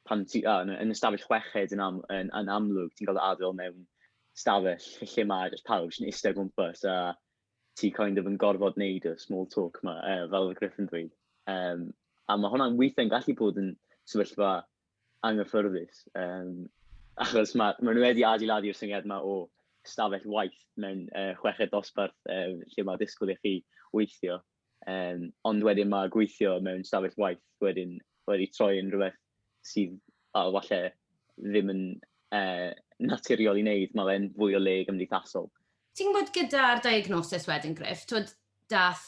pan ti a- yn y stafell chweched yn am- yn yn amlwg ti'n cael dy adael mewn stafell lle lle mae jyst pawb jyst yn iste o gwmpas a ti kind of yn gorfod neud y small talk 'ma yy fel oedd Griff yn dweud. Yym a ma' hwnna'n weithie'n gallu bod yn sefyllfa anghyffyrddus, um, achos mae, ma nhw wedi adeiladu'r syniad yma o stafell waith mewn uh, chweched dosbarth um, lle mae disgwyl i chi weithio. Um, ond wedyn mae gweithio mewn stafell waith wedyn wedi troi yn rhywbeth sydd a falle ddim yn uh, naturiol i wneud, mae fe'n fwy o le gymdeithasol. Ti'n gwybod gyda'r diagnosis wedyn, Griff, twyd, dath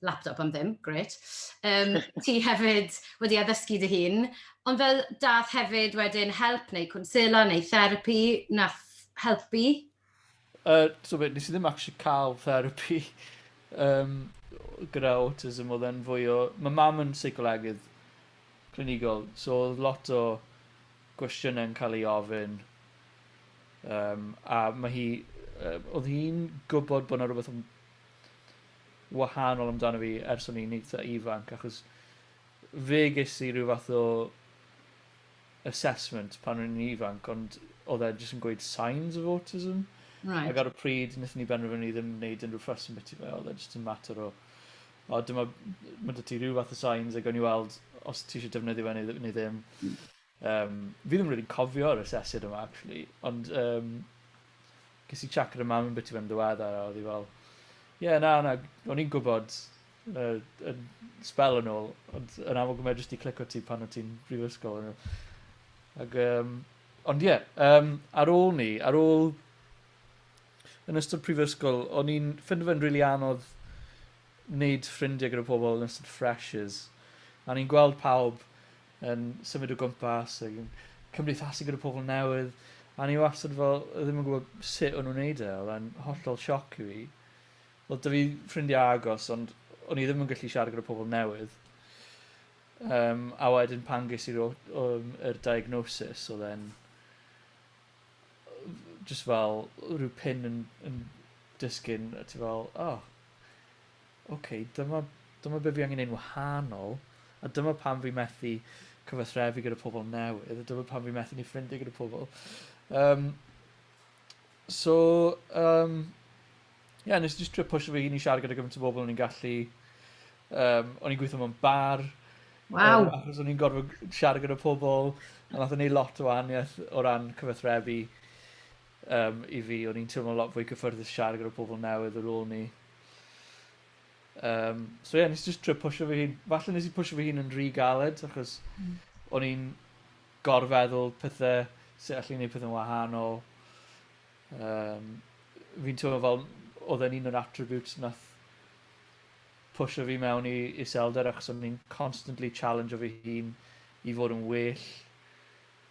laptop am ddim, grêt. Um, ti hefyd wedi addysgu dy hun, ond fel dath hefyd wedyn help neu cwnsela neu therapi, nath helpu? Uh, so beth, nes i ddim actually cael therapi um, gyda autism, oedd e'n fwy o... Mae mam yn seicolegydd clinigol, so oedd lot o gwestiynau'n cael ei ofyn. Um, a mae hi... Uh, oedd hi'n gwybod bod yna rhywbeth wahanol amdano fi ers o'n i'n eitha ifanc achos fe ges i rhyw fath o assessment pan o'n i'n ifanc ond oedd e jyst yn gweud signs of autism right. ac ar y pryd wnaethon ni benderfynu ddim wneud unrhyw ffas yn byti fe oedd e jyst yn mater o o dyma mae dy ti rhyw fath o signs ac o'n i weld os ti eisiau defnyddio fe neu, neu ddim mm. Yym, fi ddim rili'n cofio'r asesiad yma actually, ond yym ges i chat gyda mam am biti fe'n ddiweddar a odd 'i fel ie na na o'n i'n gwbod yy yn sbel yn ôl ond yn amlwg ma' fe jyst 'di clico ti pan o' ti'n brifysgol on' yw? Ag yym ond ie yym ar ôl 'ny ar ôl yn ystod prifysgol o'n i'n ffindo fe'n rili anodd neud ffrindie gyda pobol yn ystod freshers a o'n i'n gweld pawb yn symud o gwmpas ac yn cymdeithasu gyda pobl newydd, a ni wastad fel ddim yn gwybod sut o'n nhw'n neud e, oedd e'n hollol sioc i fi. Oedd 'da fi ffrindiau agos, ond o'n i ddim yn gallu siarad gyda pobl newydd. Um, a wedyn pan ges i'r um, er diagnosis, oedd e'n just fel rhyw pin yn, yn disgyn, a ti fel, oh, Ok, dyma, dyma be fi angen neu'n wahanol, a dyma pam fi methu cyfathrebu gyda pobl newydd, a dyma pam fi methu ni ffrindiau gyda pobl. Um, so, um, yeah, nes i just trio pwysio fy hun i siarad gyda gymaint o bobl o'n i'n gallu, um, o'n i'n gweithio mewn bar, Wow. Um, achos o'n i'n gorfod siarad gyda pobl, a nath o'n ei lot o aniaeth o ran cyfathrebu um, i fi. O'n i'n teimlo lot fwy cyffyrddus siarad gyda pobl newydd ar ôl ni. Um, so ie, yeah, nes i just trio pwysio fy hun. Falle nes i pwysio fy hun yn rhy galed, achos mm. o'n i'n gorfeddwl pethau, sut allai wneud pethau'n wahanol. Um, fi'n teimlo fel, oedd e'n un o'r attributes nath pwysio fi mewn i iselder, achos o'n i'n constantly challenge o fy hun i fod yn well.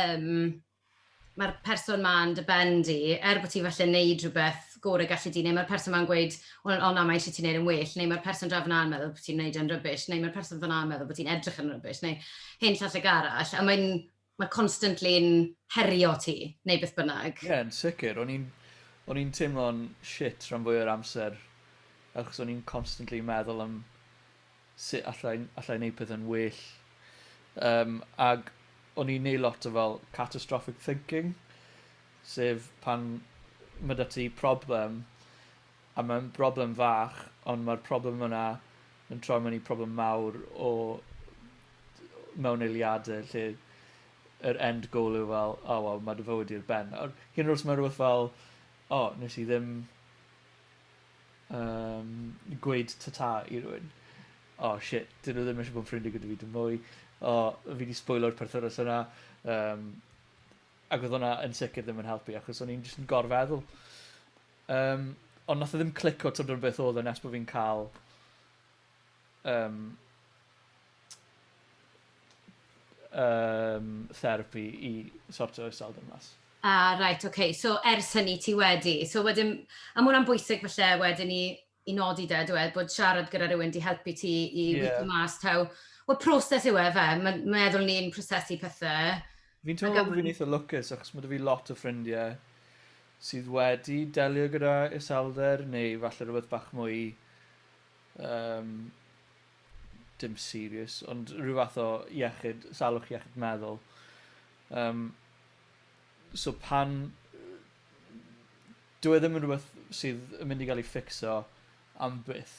um, mae'r person ma'n dy ben di, er bod ti falle wneud rhywbeth gore gallu di, neu mae'r person ma'n gweud, o, o na, mae eisiau ti'n neud yn well, neu mae'r person draw fyna'n meddwl bod ti'n neud yn rybys, neu mae'r person fyna'n meddwl bod ti'n edrych yn rybys, neu hyn llall ag arall, a mae'n mae constantly'n herio ti, neu beth bynnag. Ie, yeah, yn sicr. O'n i'n o'n i'n teimlo'n shit rhan fwy o'r amser, achos o'n i'n constantly meddwl am sut alla i alla i neud pethe'n well yym ag o'n i'n neu' lot o fel catastrophic thinking sef pan ma' 'da ti problem a ma'n broblem fach ond ma'r problem yna yn troi mewn i problem mawr o d- o mewn eiliade lle yr end goal yw fel o wel ma' dy fywyd di ar ben nawr. Hyd yn o'd os ma' rwbeth fel o nes i ddim um, gweud tata i rwy'n. O, oh, shit, dyn nhw ddim eisiau bod yn ffrindiau gyda fi dim mwy. O, oh, fi wedi sbwylo'r perthynas yna. Um, ac oedd hwnna yn sicr ddim yn helpu, achos o'n i'n jyst yn gorfeddwl. Um, ond nath o e ddim clico tymor beth oedd e nes bod fi'n cael yym yym therapi i sortio iselder mas. A reit ok, so ers hynny ti wedi, so wedyn a ma' hwnna'n bwysig falle wedyn i i nodi 'de dyw e bod siarad gyda rywun 'di helpu ti i weithio mas taw wel proses yw e yfe ma' meddwl ni'n prosesu pethe Fi'n teimlo fel bo fi'n eitha lwcus achos ma' 'da fi lot o ffrindie sydd wedi delio gyda iselder neu falle rwbeth bach mwy Yym, dim serious, ond rhyw fath o iechyd, salwch iechyd meddwl. Yym, so pan... Dyw e ddim yn rhywbeth sydd yn mynd i gael ei ffixo am byth,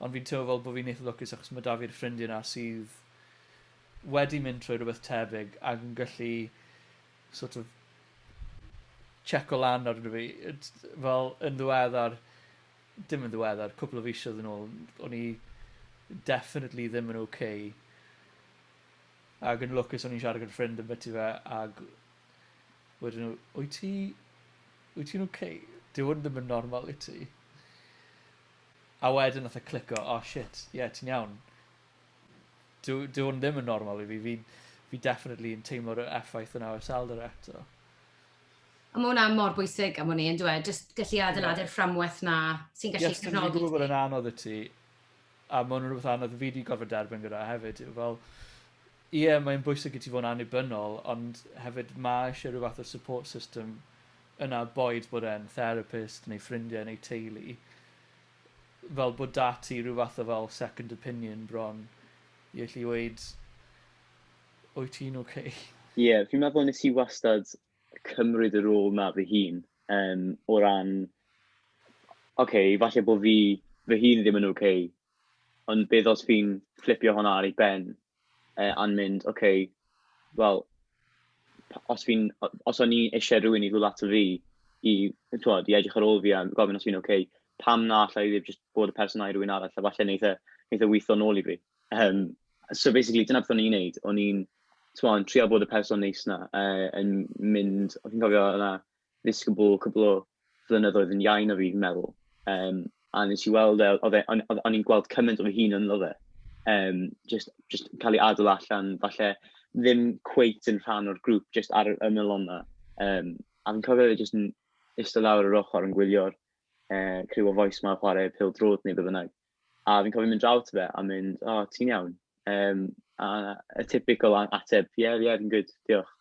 ond fi'n teimlo fel bod fi'n eitha lwcus achos mae 'da fi'r ffrindiau 'na sydd wedi mynd trwy rhywbeth tebyg ac yn gallu sort of checo lan arno fi. Fel yn ddiweddar dim yn ddiweddar, cwpl o fisoedd yn ôl, o'n i definitely ddim yn ok. Ac yn lwcus o'n i'n siarad gyda ffrind yn byti fe, ac wedyn nhw, wyt ti, wyt ti'n ok? Dyw hwn ddim yn normal i ti. A wedyn nath e clico, oh shit, ie, yeah, ti'n iawn. Dyw, dyw hwn ddim yn normal i fi, fi, fi definitely yn teimlo'r effaith yna o iselder eto. A ma' hwnna mor bwysig am wn i yndyw e? Jyst gallu adeiladu'r fframwaith 'na sy'n gallu cefnogi ti. Ie, achos dwi'n gwybod bod e'n anodd i ti, a ma' hwnna'n rhywbeth anodd fi 'di gorfod derbyn gyda hefyd yw fel, ie mae'n bwysig i ti fod yn annibynnol ond hefyd ma' isie rhyw fath o support system yna boed bod e'n therapist neu ffrindiau neu teulu fel bod 'da ti rhyw fath o fel second opinion bron i allu weud wyt ti'n ok? Ie, fi'n meddwl nes i wastad cymryd y rôl 'na fy hun, yym, o ran, ocê, falle bo' fi fy hun ddim yn ok, ond beth os fi'n fflipio hwnna ar ei ben, yy, a'n mynd, ocê, wel, p- os fi'n, o- os o'n i isie rywun i ddod ato fi i, t'mod, i edrych ar ôl fi a gofyn os fi'n ok, pam na alla i ddim jyst bod y person 'na i rywun arall, a falle neith e, neith e witho nôl i fi. Yym, so basically, dyna beth o'n i'n wneud. O'n i'n, timod, yn trio bod y person neis 'na, yy, yn mynd... O'n i'n cofio oedd 'na ddisgybl cwpl o flynyddoedd yn iau na fi, fi'n meddwl, yym, a wnes i weld e, oedd e... o'n o'n i'n gweld cymaint o fy hun ynddo fe, yym, jyst jyst cael ei adael allan, falle ddim cweit yn rhan o'r grŵp, jyst ar yr ymylon 'na. Yym, a fi'n cofio fe jyst yn iste lawr ar yr ochr yn gwylio'r yy criw o fois 'ma chwarae pêl-droed neu be bynnag. A fi'n cofio mynd draw ato fe a mynd, o, oh, ti'n iawn? Um, a y typical ateb, ie, yeah, ie, yeah, fi'n gwyd, diolch.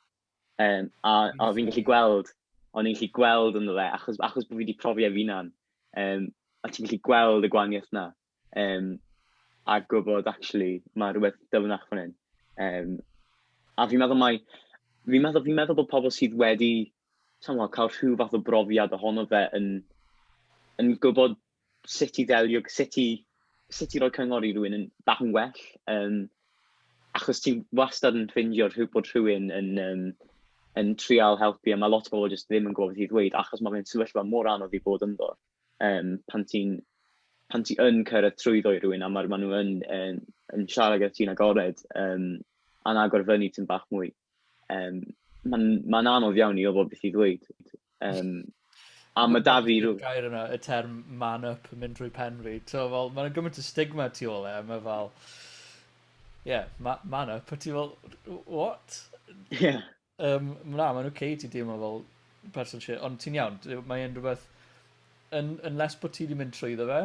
Um, a, a fi'n gallu gweld, o'n i'n gallu gweld ynddo fe, achos, achos bod fi wedi profi ef unan, um, a ti'n gallu gweld y gwaniaeth yna, um, a gwybod, actually, mae rhywbeth dyfnach fan hyn. Um, a fi'n meddwl mai, fi'n meddwl, fi meddwl bod pobl sydd wedi, ti'n cael rhyw fath o brofiad ohono fe yn, yn gwybod sut i ddelio, sut i, sut i roi cyngor i rhywun yn bach yn well. Um, achos ti'n wastad yn ffeindio rhyw, bod rhywun yn, um, yn trial helpu, a mae lot o bobl jyst ddim yn gwybod beth i ddweud, achos mae fe'n sefyllfa mor anodd i bod ynddo. Um, pan ti'n pan ti yn cyrraedd trwyddo i rhywun a maen ma nhw yn, yn, yn siarad gyda ti'n agored, um, a'n agor fyny ti'n bach mwy. Um, Mae'n ma anodd iawn i ofod beth i ddweud. Um, a mae da fi rhyw... Gair yna, y term man up yn mynd drwy pen fi. So, fel, mae'n gymaint o stigma tu ôl e, mae fel... Ie, yeah, ma man up, a ti fel, what? Ie. Yeah. Um, na, mae'n oce okay, ti deimlo fel person shit, ond ti'n iawn, mae'n rhywbeth yn, unless bod ti wedi mynd trwy ddo fe,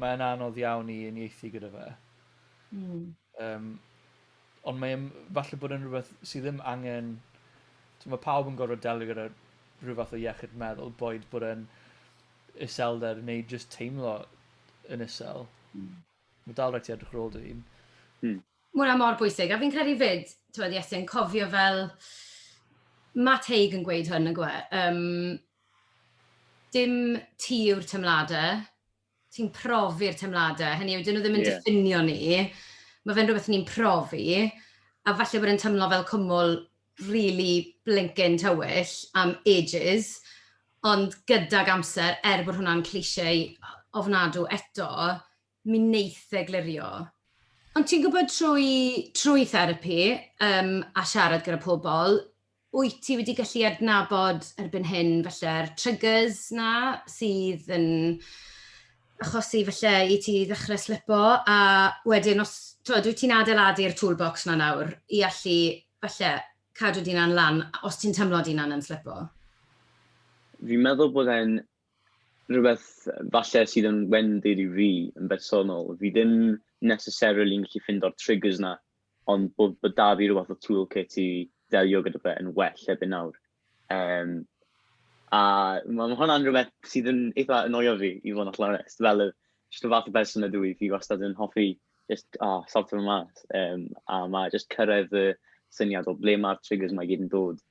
mae'n anodd iawn i unieithu gyda fe. Mm. Um, Ond mae e'n falle bod e'n rhywbeth sydd ddim angen... T'mo' ma' pawb yn gorfod delio gyda rhyw fath o iechyd meddwl boed bod e'n iselder neu jyst teimlo yn isel. Hmm. Ma' dal raid ti edrych ar ôl dy hun. Hmm. Ma' wnna mor bwysig a fi'n credu 'fyd t'mod Iesu yn cofio fel ma' Teig yn gweud hwn nagyw e? Yym dim ti yw'r temlade ti'n profi'r teimladau, hynny yw, dyn nhw ddim yn yeah. diffinio ni, mae fe'n rhywbeth ni'n profi, a falle bod e'n teimlo fel cwmwl really blinking tywyll am ages, ond gydag amser, er bod hwnna'n clisiau ofnadw eto, mi wneith e glirio. Ond ti'n gwybod trwy, trwy therapi um, a siarad gyda pobl, Wyt ti wedi gallu adnabod erbyn hyn falle'r triggers 'na sydd yn achosi falle i ti ddechrau slipo a wedyn os t'wod wyt ti'n adeiladu'r toolbox 'na nawr i allu falle cadw dy hunan lan os ti'n teimlo dy hunan yn slipo? Fi'n meddwl bod e'n rhywbeth falle sydd yn wendid i fi yn bersonol. Fi ddim necessarily'n gallu ffindo'r triggers 'na ond bod bod 'da fi ryw fath o tool kit i ddelio gyda fe yn well erbyn nawr. Um, a mae ma hwnna'n rhywbeth sydd yn eitha annoio fi, i fod yn allan onest. Fel, y, just y fath o berson ydw i, fi wastad yn hoffi just, oh, sortio fy mas. Um, a mae just cyrraedd y syniad o ble mae'r triggers mae gyd yn dod.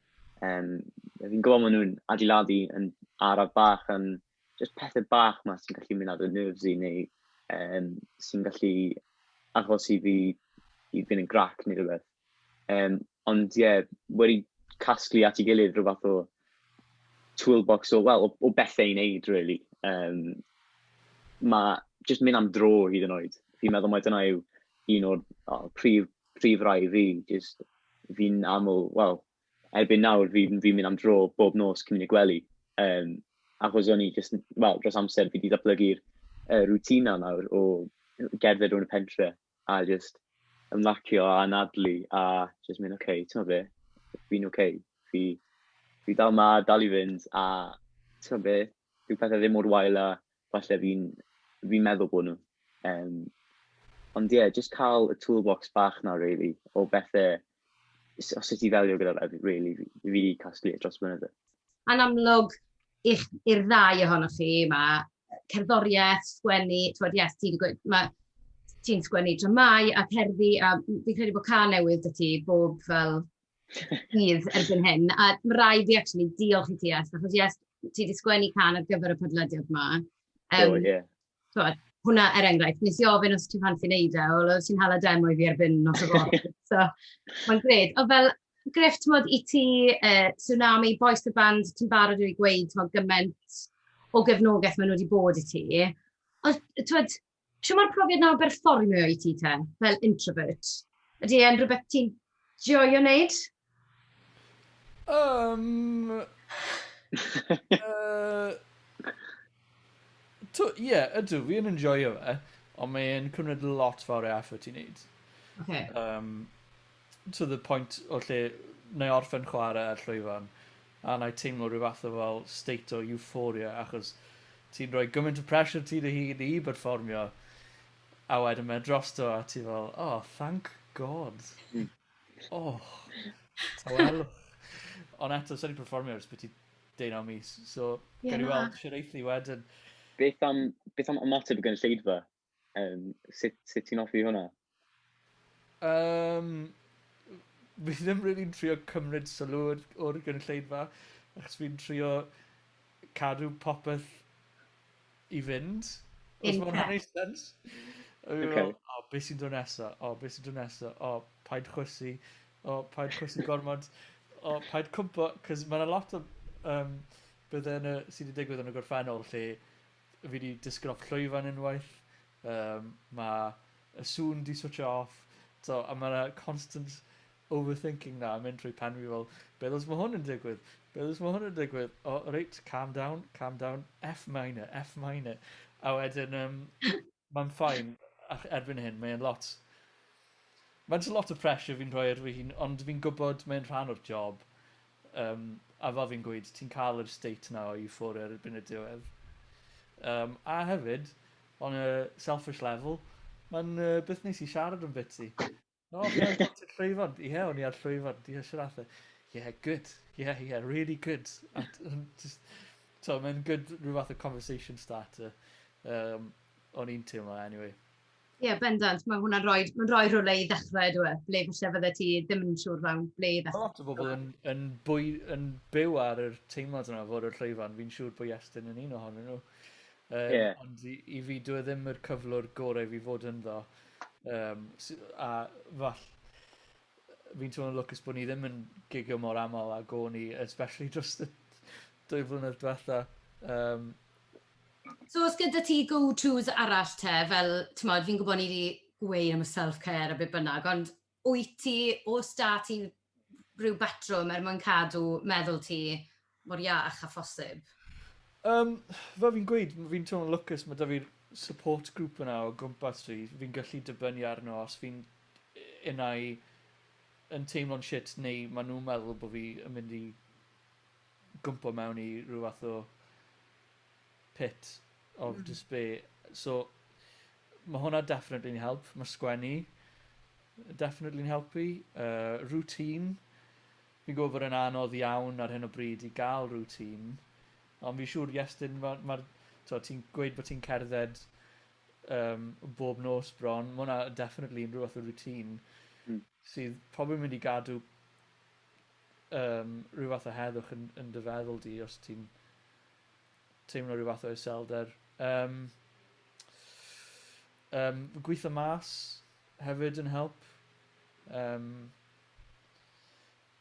Um, fi'n gwybod maen nhw'n adeiladu yn araf bach yn just pethau bach ma sy'n gallu mynd ar y nerves i neu um, sy'n gallu achos i fi i fynd yn grac neu rhywbeth. Um, ond ie, yeah, wedi casglu at ei gilydd rhywbeth o toolbox o, well, o, o bethau i wneud, really. Um, mae just mynd am dro hyd yn oed. Fi'n meddwl mae dyna yw un o'r oh, prif, prif rai fi, just fi'n aml, wel, erbyn nawr fi, fi'n mynd am dro bob nos cyn mynd i gwely. Um, achos o'n i just, wel, dros amser fi wedi datblygu'r uh, rutina nawr o gerdded o'n y pentre a just ymlacio a anadlu a just mynd, oce, okay, ti'n be, fi'n oce, okay. fi, fi dal ma, dal i fynd a ti'n be, dyw pethe ddim mor wael a falle fi'n fi'n meddwl bod nhw. Um, ond ie, yeah, jyst cael y toolbox bach na, really, o bethe, o sut i ddelio gyda fe, really, fi wedi casglu e dros blynydde. Yn amlwg, i'r ddau ohonoch chi, mae cerddoriaeth, sgwennu, twyd, yes, ti'n gweud, mae ti'n sgwennu dramau a cerddi, a fi'n credu bod ca newydd dy ti bob fel Bydd erbyn hyn, a mae rai fi actually diolch i ti, achos yes, ti wedi sgwennu can ar gyfer y podlediad yma. Um, oh, yeah. So, hwnna er enghraifft, nes i ofyn os ti'n fan sy'n neud e, o, ti'n hala demo i fi erbyn nos o fod. so, mae'n gred. O, fel, Griff, ti'n modd i ti, uh, Tsunami, Boys the Band, ti'n barod i gweud, ti'n modd, gymaint o gefnogaeth maen nhw wedi bod i ti. Os, ti'n modd, Shwt mae'r profiad 'na o berfformio i ti te, fel introvert? Ydy e'n rhywbeth ti'n joio wneud? Yym... yy... Ie, ydw, fi yn enjoio fe, ond mae'n cymryd lot fawr o effort i wneud. Ocê. Yym. to the point o lle wna i orffen chwarae ar llwyfan a wna i teimlo rhyw fath o fel state o euphoria achos ti'n rhoi gymaint o pressure ti dy hun i berfformio a wedyn mae e drosto a ti fel oh thank god hmm. oh tawelwch ond eto sa'n i'n performio ers beth i deunaw mis so yeah, gawn ni weld siwr eithi wedyn beth am, beth am ymateb y gynulleidfa? Um, sut, sut ti'n offi hwnna? Um, fi ddim really yn trio cymryd sylw o'r, or gynulleidfa, achos fi'n trio cadw popeth i fynd. Os mae'n hwnna'n ei sens. Okay. O, oh, beth sy'n dod nesa? O, oh, beth sy'n dod nesa? O, oh, paid chwysu. O, oh, paid chwysu gormod. O, oh, paid cwmpo. Cos mae'n a lot o um, byddau sydd wedi digwydd yn y gorffennol lle Fi 'di disgyn off llwyfan unwaith. Yym ma' y sŵn 'di switsio off. T'o' a ma' 'na constant overthinking 'na yn mynd trwy pen fi fel beth os ma' hwn yn digwydd? Beth os ma' hwn yn digwydd? O reit calm down calm down. Eff minor eff minor. A wedyn yym Mae'n fine ac erbyn hyn mae e'n lot... Mae'n jyst lot o pressure fi'n rhoi ar fy hun ond fi'n gwybod mae'n rhan o'r job yym a fel fi'n gweud ti'n cael yr state 'na o euphoria erbyn y diwedd yym a hefyd on a selfish level mae'n yy beth neis i siarad ambyti. No, ie, Ponty'r Llwyfan. Ie, yeah, o'n i ar Llwyfan. Ie, yeah, Sir Arthur. Ie, yeah, good. Ie, yeah, ie, yeah, really good. At, just, to, mae'n good rhyw fath o conversation starter. Um, o'n i'n teimlo, anyway. Ie, yeah, bendant. Mae hwnna'n rhoi, mae'n rhoi rhywle i ddechrau, dwi e. Ble falle fydde ti ddim yn siŵr fawn, ble i ddechrau. Lot o bobl yn, yn, bwy, yn byw ar yr teimlad yna fod y llwyfan. Fi'n siŵr bod Iestyn yn un ohonyn nhw. Um, yeah. Ond i, i fi, dwi e ddim yr cyflwr gorau fi fod ynddo. Um, a fall, fi'n teimlo'n lwcus bod ni ddim yn gigio mor aml a go ni, especially dros y dwy flynedd diwetha. Um, so os gyda ti go-tos arall te, fel, ti'n modd, fi'n gwybod ni wedi gweud am y self-care a beth bynnag, ond Wyt ti, oes 'da ti ryw batrwm er mwyn cadw meddwl ti mor iach â phosib? Yym, fel fi'n gweud, fi'n teimlo'n lwcus, mae 'da fi'r support group yna o gwmpas fi, fi'n gallu dibynnu arno os fi'n unai yn teimlo'n shit neu maen nhw'n meddwl bod fi yn mynd i gwmpo mewn i ryw fath o pit of mm. despair. So, mae hwnna definitely'n help. Mae sgwennu definitely'n helpu. Uh, routine. Fi'n gwybod bod yn anodd iawn ar hyn o bryd i gael routine. Ond fi'n siŵr, Iestyn, mae... Ma, ti'n gweud bod ti'n cerdded um, bob nos bron. Mae hwnna definitely yn rhywbeth o routine mm. sydd probably mynd i gadw um, rhywbeth o heddwch yn, yn dy feddwl di os ti'n teimlo rhyw fath o iselder. Yym yym gweitho mas hefyd yn help. Yym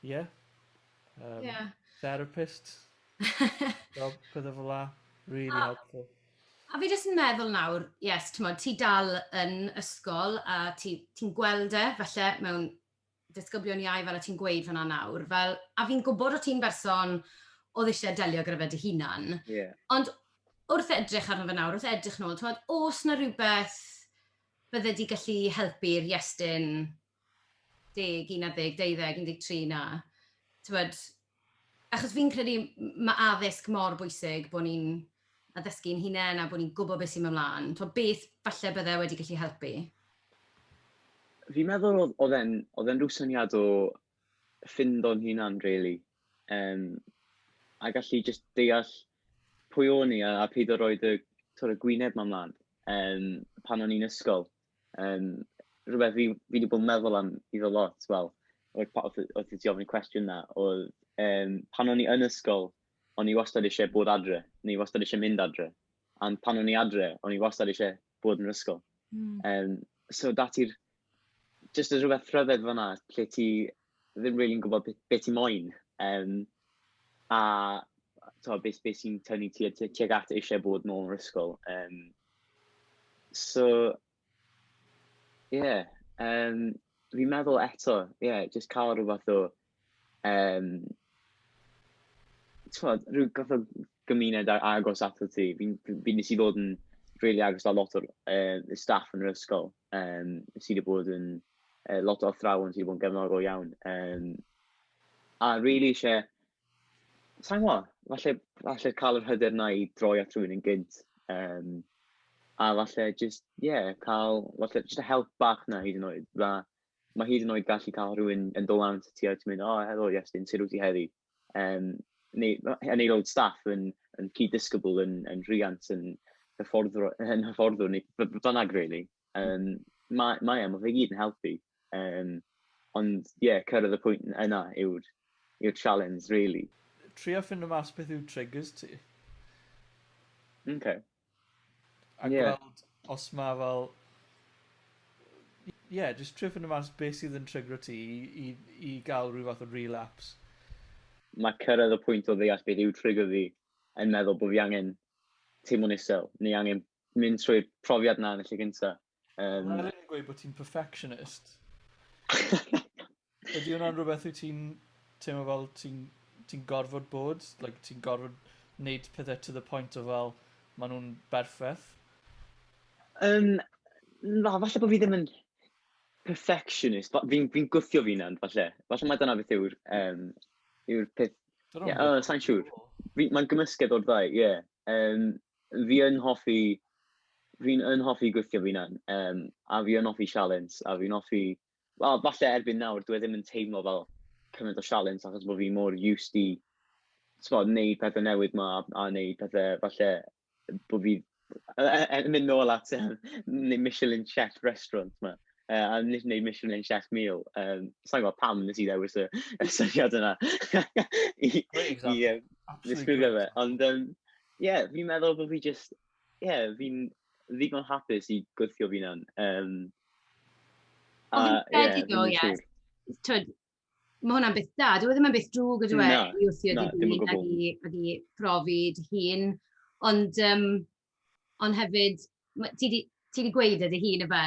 ie. Yym yeah. therapist. Fel pethau fel 'na. Really oh. helpful. A fi jyst yn meddwl nawr, yes, ti'n ti dal yn ysgol a ti'n ti gweld e falle mewn disgyblion iau fel o' ti'n gweud fan'na nawr, fel, a fi'n gwbod o' ti'n berson o'dd isie delio gyda fe dy hunan. Ie. Ond wrth edrych arno fe nawr, wrth edrych nôl, t'mod, o's 'na rywbeth bydde di gallu helpu i'r Iestyn deg, unarddeg, deuddeg, undeg tri 'na? T'mod? Achos fi'n credu mae addysg mor bwysig bod ni'n addysgu'n hunain a bod ni'n gwybod beth sy'n mynd mlaen. Tibod, beth falle bydde wedi gallu helpu? Fi'n meddwl oedd, oedd e'n, oedd e'n rhyw syniad o ffind o'n hunan, really. Um, a gallu just deall pwy o'n i a, a peidio roed y, y gwyneb ma mlaen um, pan o'n i'n ysgol. Um, rhywbeth fi, fi wedi bod yn meddwl am i ddod lot, wel, oedd ti ofyn y cwestiwn na, oedd um, pan o'n i yn ysgol, o'n i wastad eisiau bod adre, neu wastad eisiau mynd adre. A pan o'n i adre, o'n i wastad eisiau bod yn yr ysgol. Mm. Um, so dati'r, jyst y rhywbeth rhyfedd fanna, lle ti ddim rili'n gwybod be be ti moyn, yym, a tibod be be sy'n tynnu ti at tuag at eisiau bod nôl yn yr ysgol. Yym, so, ie, yeah, um, fi'n meddwl eto, ie, yeah, jyst cael rhyw fath o, um, tibod, rhyw fath o gymuned agos ato ti. Fi'n fi nes i ddod yn rili agos â lot o'r uh, staff yn yr ysgol. um, sydd wedi bod yn uh, lot o athrawon sydd wedi bod yn gefnogol iawn. Um, a rili really eisiau, sa'n gwybod, falle, falle cael yr hyder na i droi at rhywun yn gynt. Um, a falle just, ie, yeah, cael, falle just a help bach na hyd yn oed. Fa, mae hyd yn oed gallu cael rhywun yn dod lan ti a ti'n mynd, o, oh, helo, Iestyn, sut wyt ti heddi? um, neu, yn aelod staff yn, yn cyd-disgybl, yn, yn rhiant, yn hyfforddwr, yn hyfforddwr neu bynnag, really. Um, mae, mae, mae fe gyd yn helpu. Um, ond, ie, yeah, cyrraedd y pwynt yna yw'r yw challenge, really. Trio ffind o mas beth yw triggers ti. OK. A gweld os mae fel... Ie, jyst trio ffindo mas beth sydd yn trygro ti i i i gael rhyw fath o relapse. Mae cyrraedd y pwynt o ddeall beth yw trigger fi yn meddwl bod fi angen teimlo'n isel, neu angen mynd trwy'r profiad 'na yn y lle cynta. Um, Mae'n rhaid i gweud bod ti'n perfectionist. Ydy hwnna'n rhywbeth wyt ti'n teimlo fel ti'n ti gorfod bod? Like, ti'n gorfod wneud pethau to the point o fel maen nhw'n berffaith? Um, na, falle bod fi ddim yn perfectionist. Fi'n fi gwthio fi nawr, falle. Falle mae dyna beth yw'r um, yw peth... Yeah, oh, sa'n siŵr. Mae'n gymysgedd o'r ddau, ie. Yeah. Um, Fi yn hoffi, fi'n yn hoffi gweithio fy hunan, yym, a fi yn hoffi sialens, a fi'n hoffi, wel, falle erbyn nawr dyw e ddim yn teimlo fel cymaint o sialens achos bo' fi mor used i, t'mod, neud pethe newydd 'ma a neud pethe falle bo' fi yy yy yn mynd nôl at yym ne- Michelin chef restaurant 'ma, yy, a n- neud Michelin chef meal, yym, sai'n gwbod pam nes i ddewis y y syniad yna i i yym ddisgrifio fe, ond yym, Ie, fi'n meddwl bod fi jyst, ie, fi'n ddigon hapus i gweithio fi'n hyn. Um, a, ie, fi'n siŵr. Twyd, mae hwnna'n beth da. Dwi e ddim yn beth drwg ydw e i wrthio no, dy hun ag i, ag i profi dy hun. Ond, um, ond hefyd, ti di, ti di gweud ydy hun efe,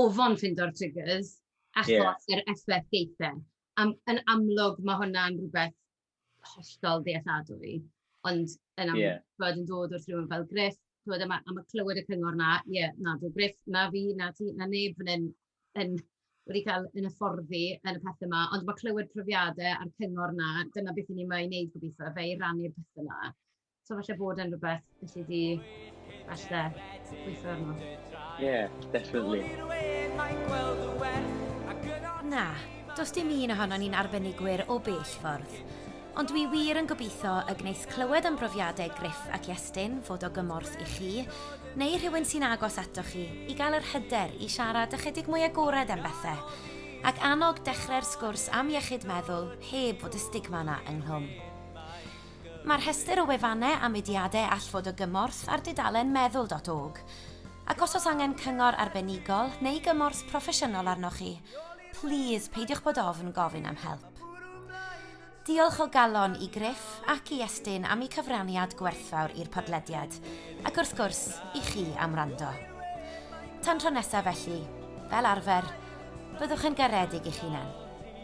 ofon ffindo'r triggers, achos yeah. yr effaith geithen. Am, yn amlwg mae hwnna'n rhywbeth hollol ddealladwy, ond yn amlwg, yeah. bod yn dod wrth rhywun fel Griff, bod yma am y clywed y cyngor na, ie, yeah, na, dwi'n Griff, na fi, na ti, na neb fan hyn, yn, wedi cael yn y fforddi yn y pethau yma, ond mae clywed profiadau a'r cyngor na, dyna beth i ni mae i wneud gobeithio, fe i rannu'r pethau yma. So falle bod yn rhywbeth felly di falle gweithio arno. Yeah, definitely. Na, dos dim un ohono ni'n arbenigwyr o bell ffordd. Ond dwi wir yn gobeithio y gwneis clywed am brofiadau Griff ac Iestyn fod o gymorth i chi, neu rhywun sy'n agos ato chi, i gael yr hyder i siarad ychydig mwy agored am bethau, ac annog dechrau'r sgwrs am iechyd meddwl heb fod y stigma yna ynghlwm. Mae rhestr o wefannau a mudiadau all fod o gymorth ar dudalen meddwl dot org. Ac os oes angen cyngor arbenigol neu gymorth proffesiynol arnoch chi, plîs peidiwch bod ofn gofyn am help. Diolch o galon i Griff ac i Estyn am eu cyfraniad gwerthfawr i'r podlediad, ac wrth gwrs, i chi am wrando. Tan tro nesaf felly, fel arfer, byddwch yn garedig i'ch hunain.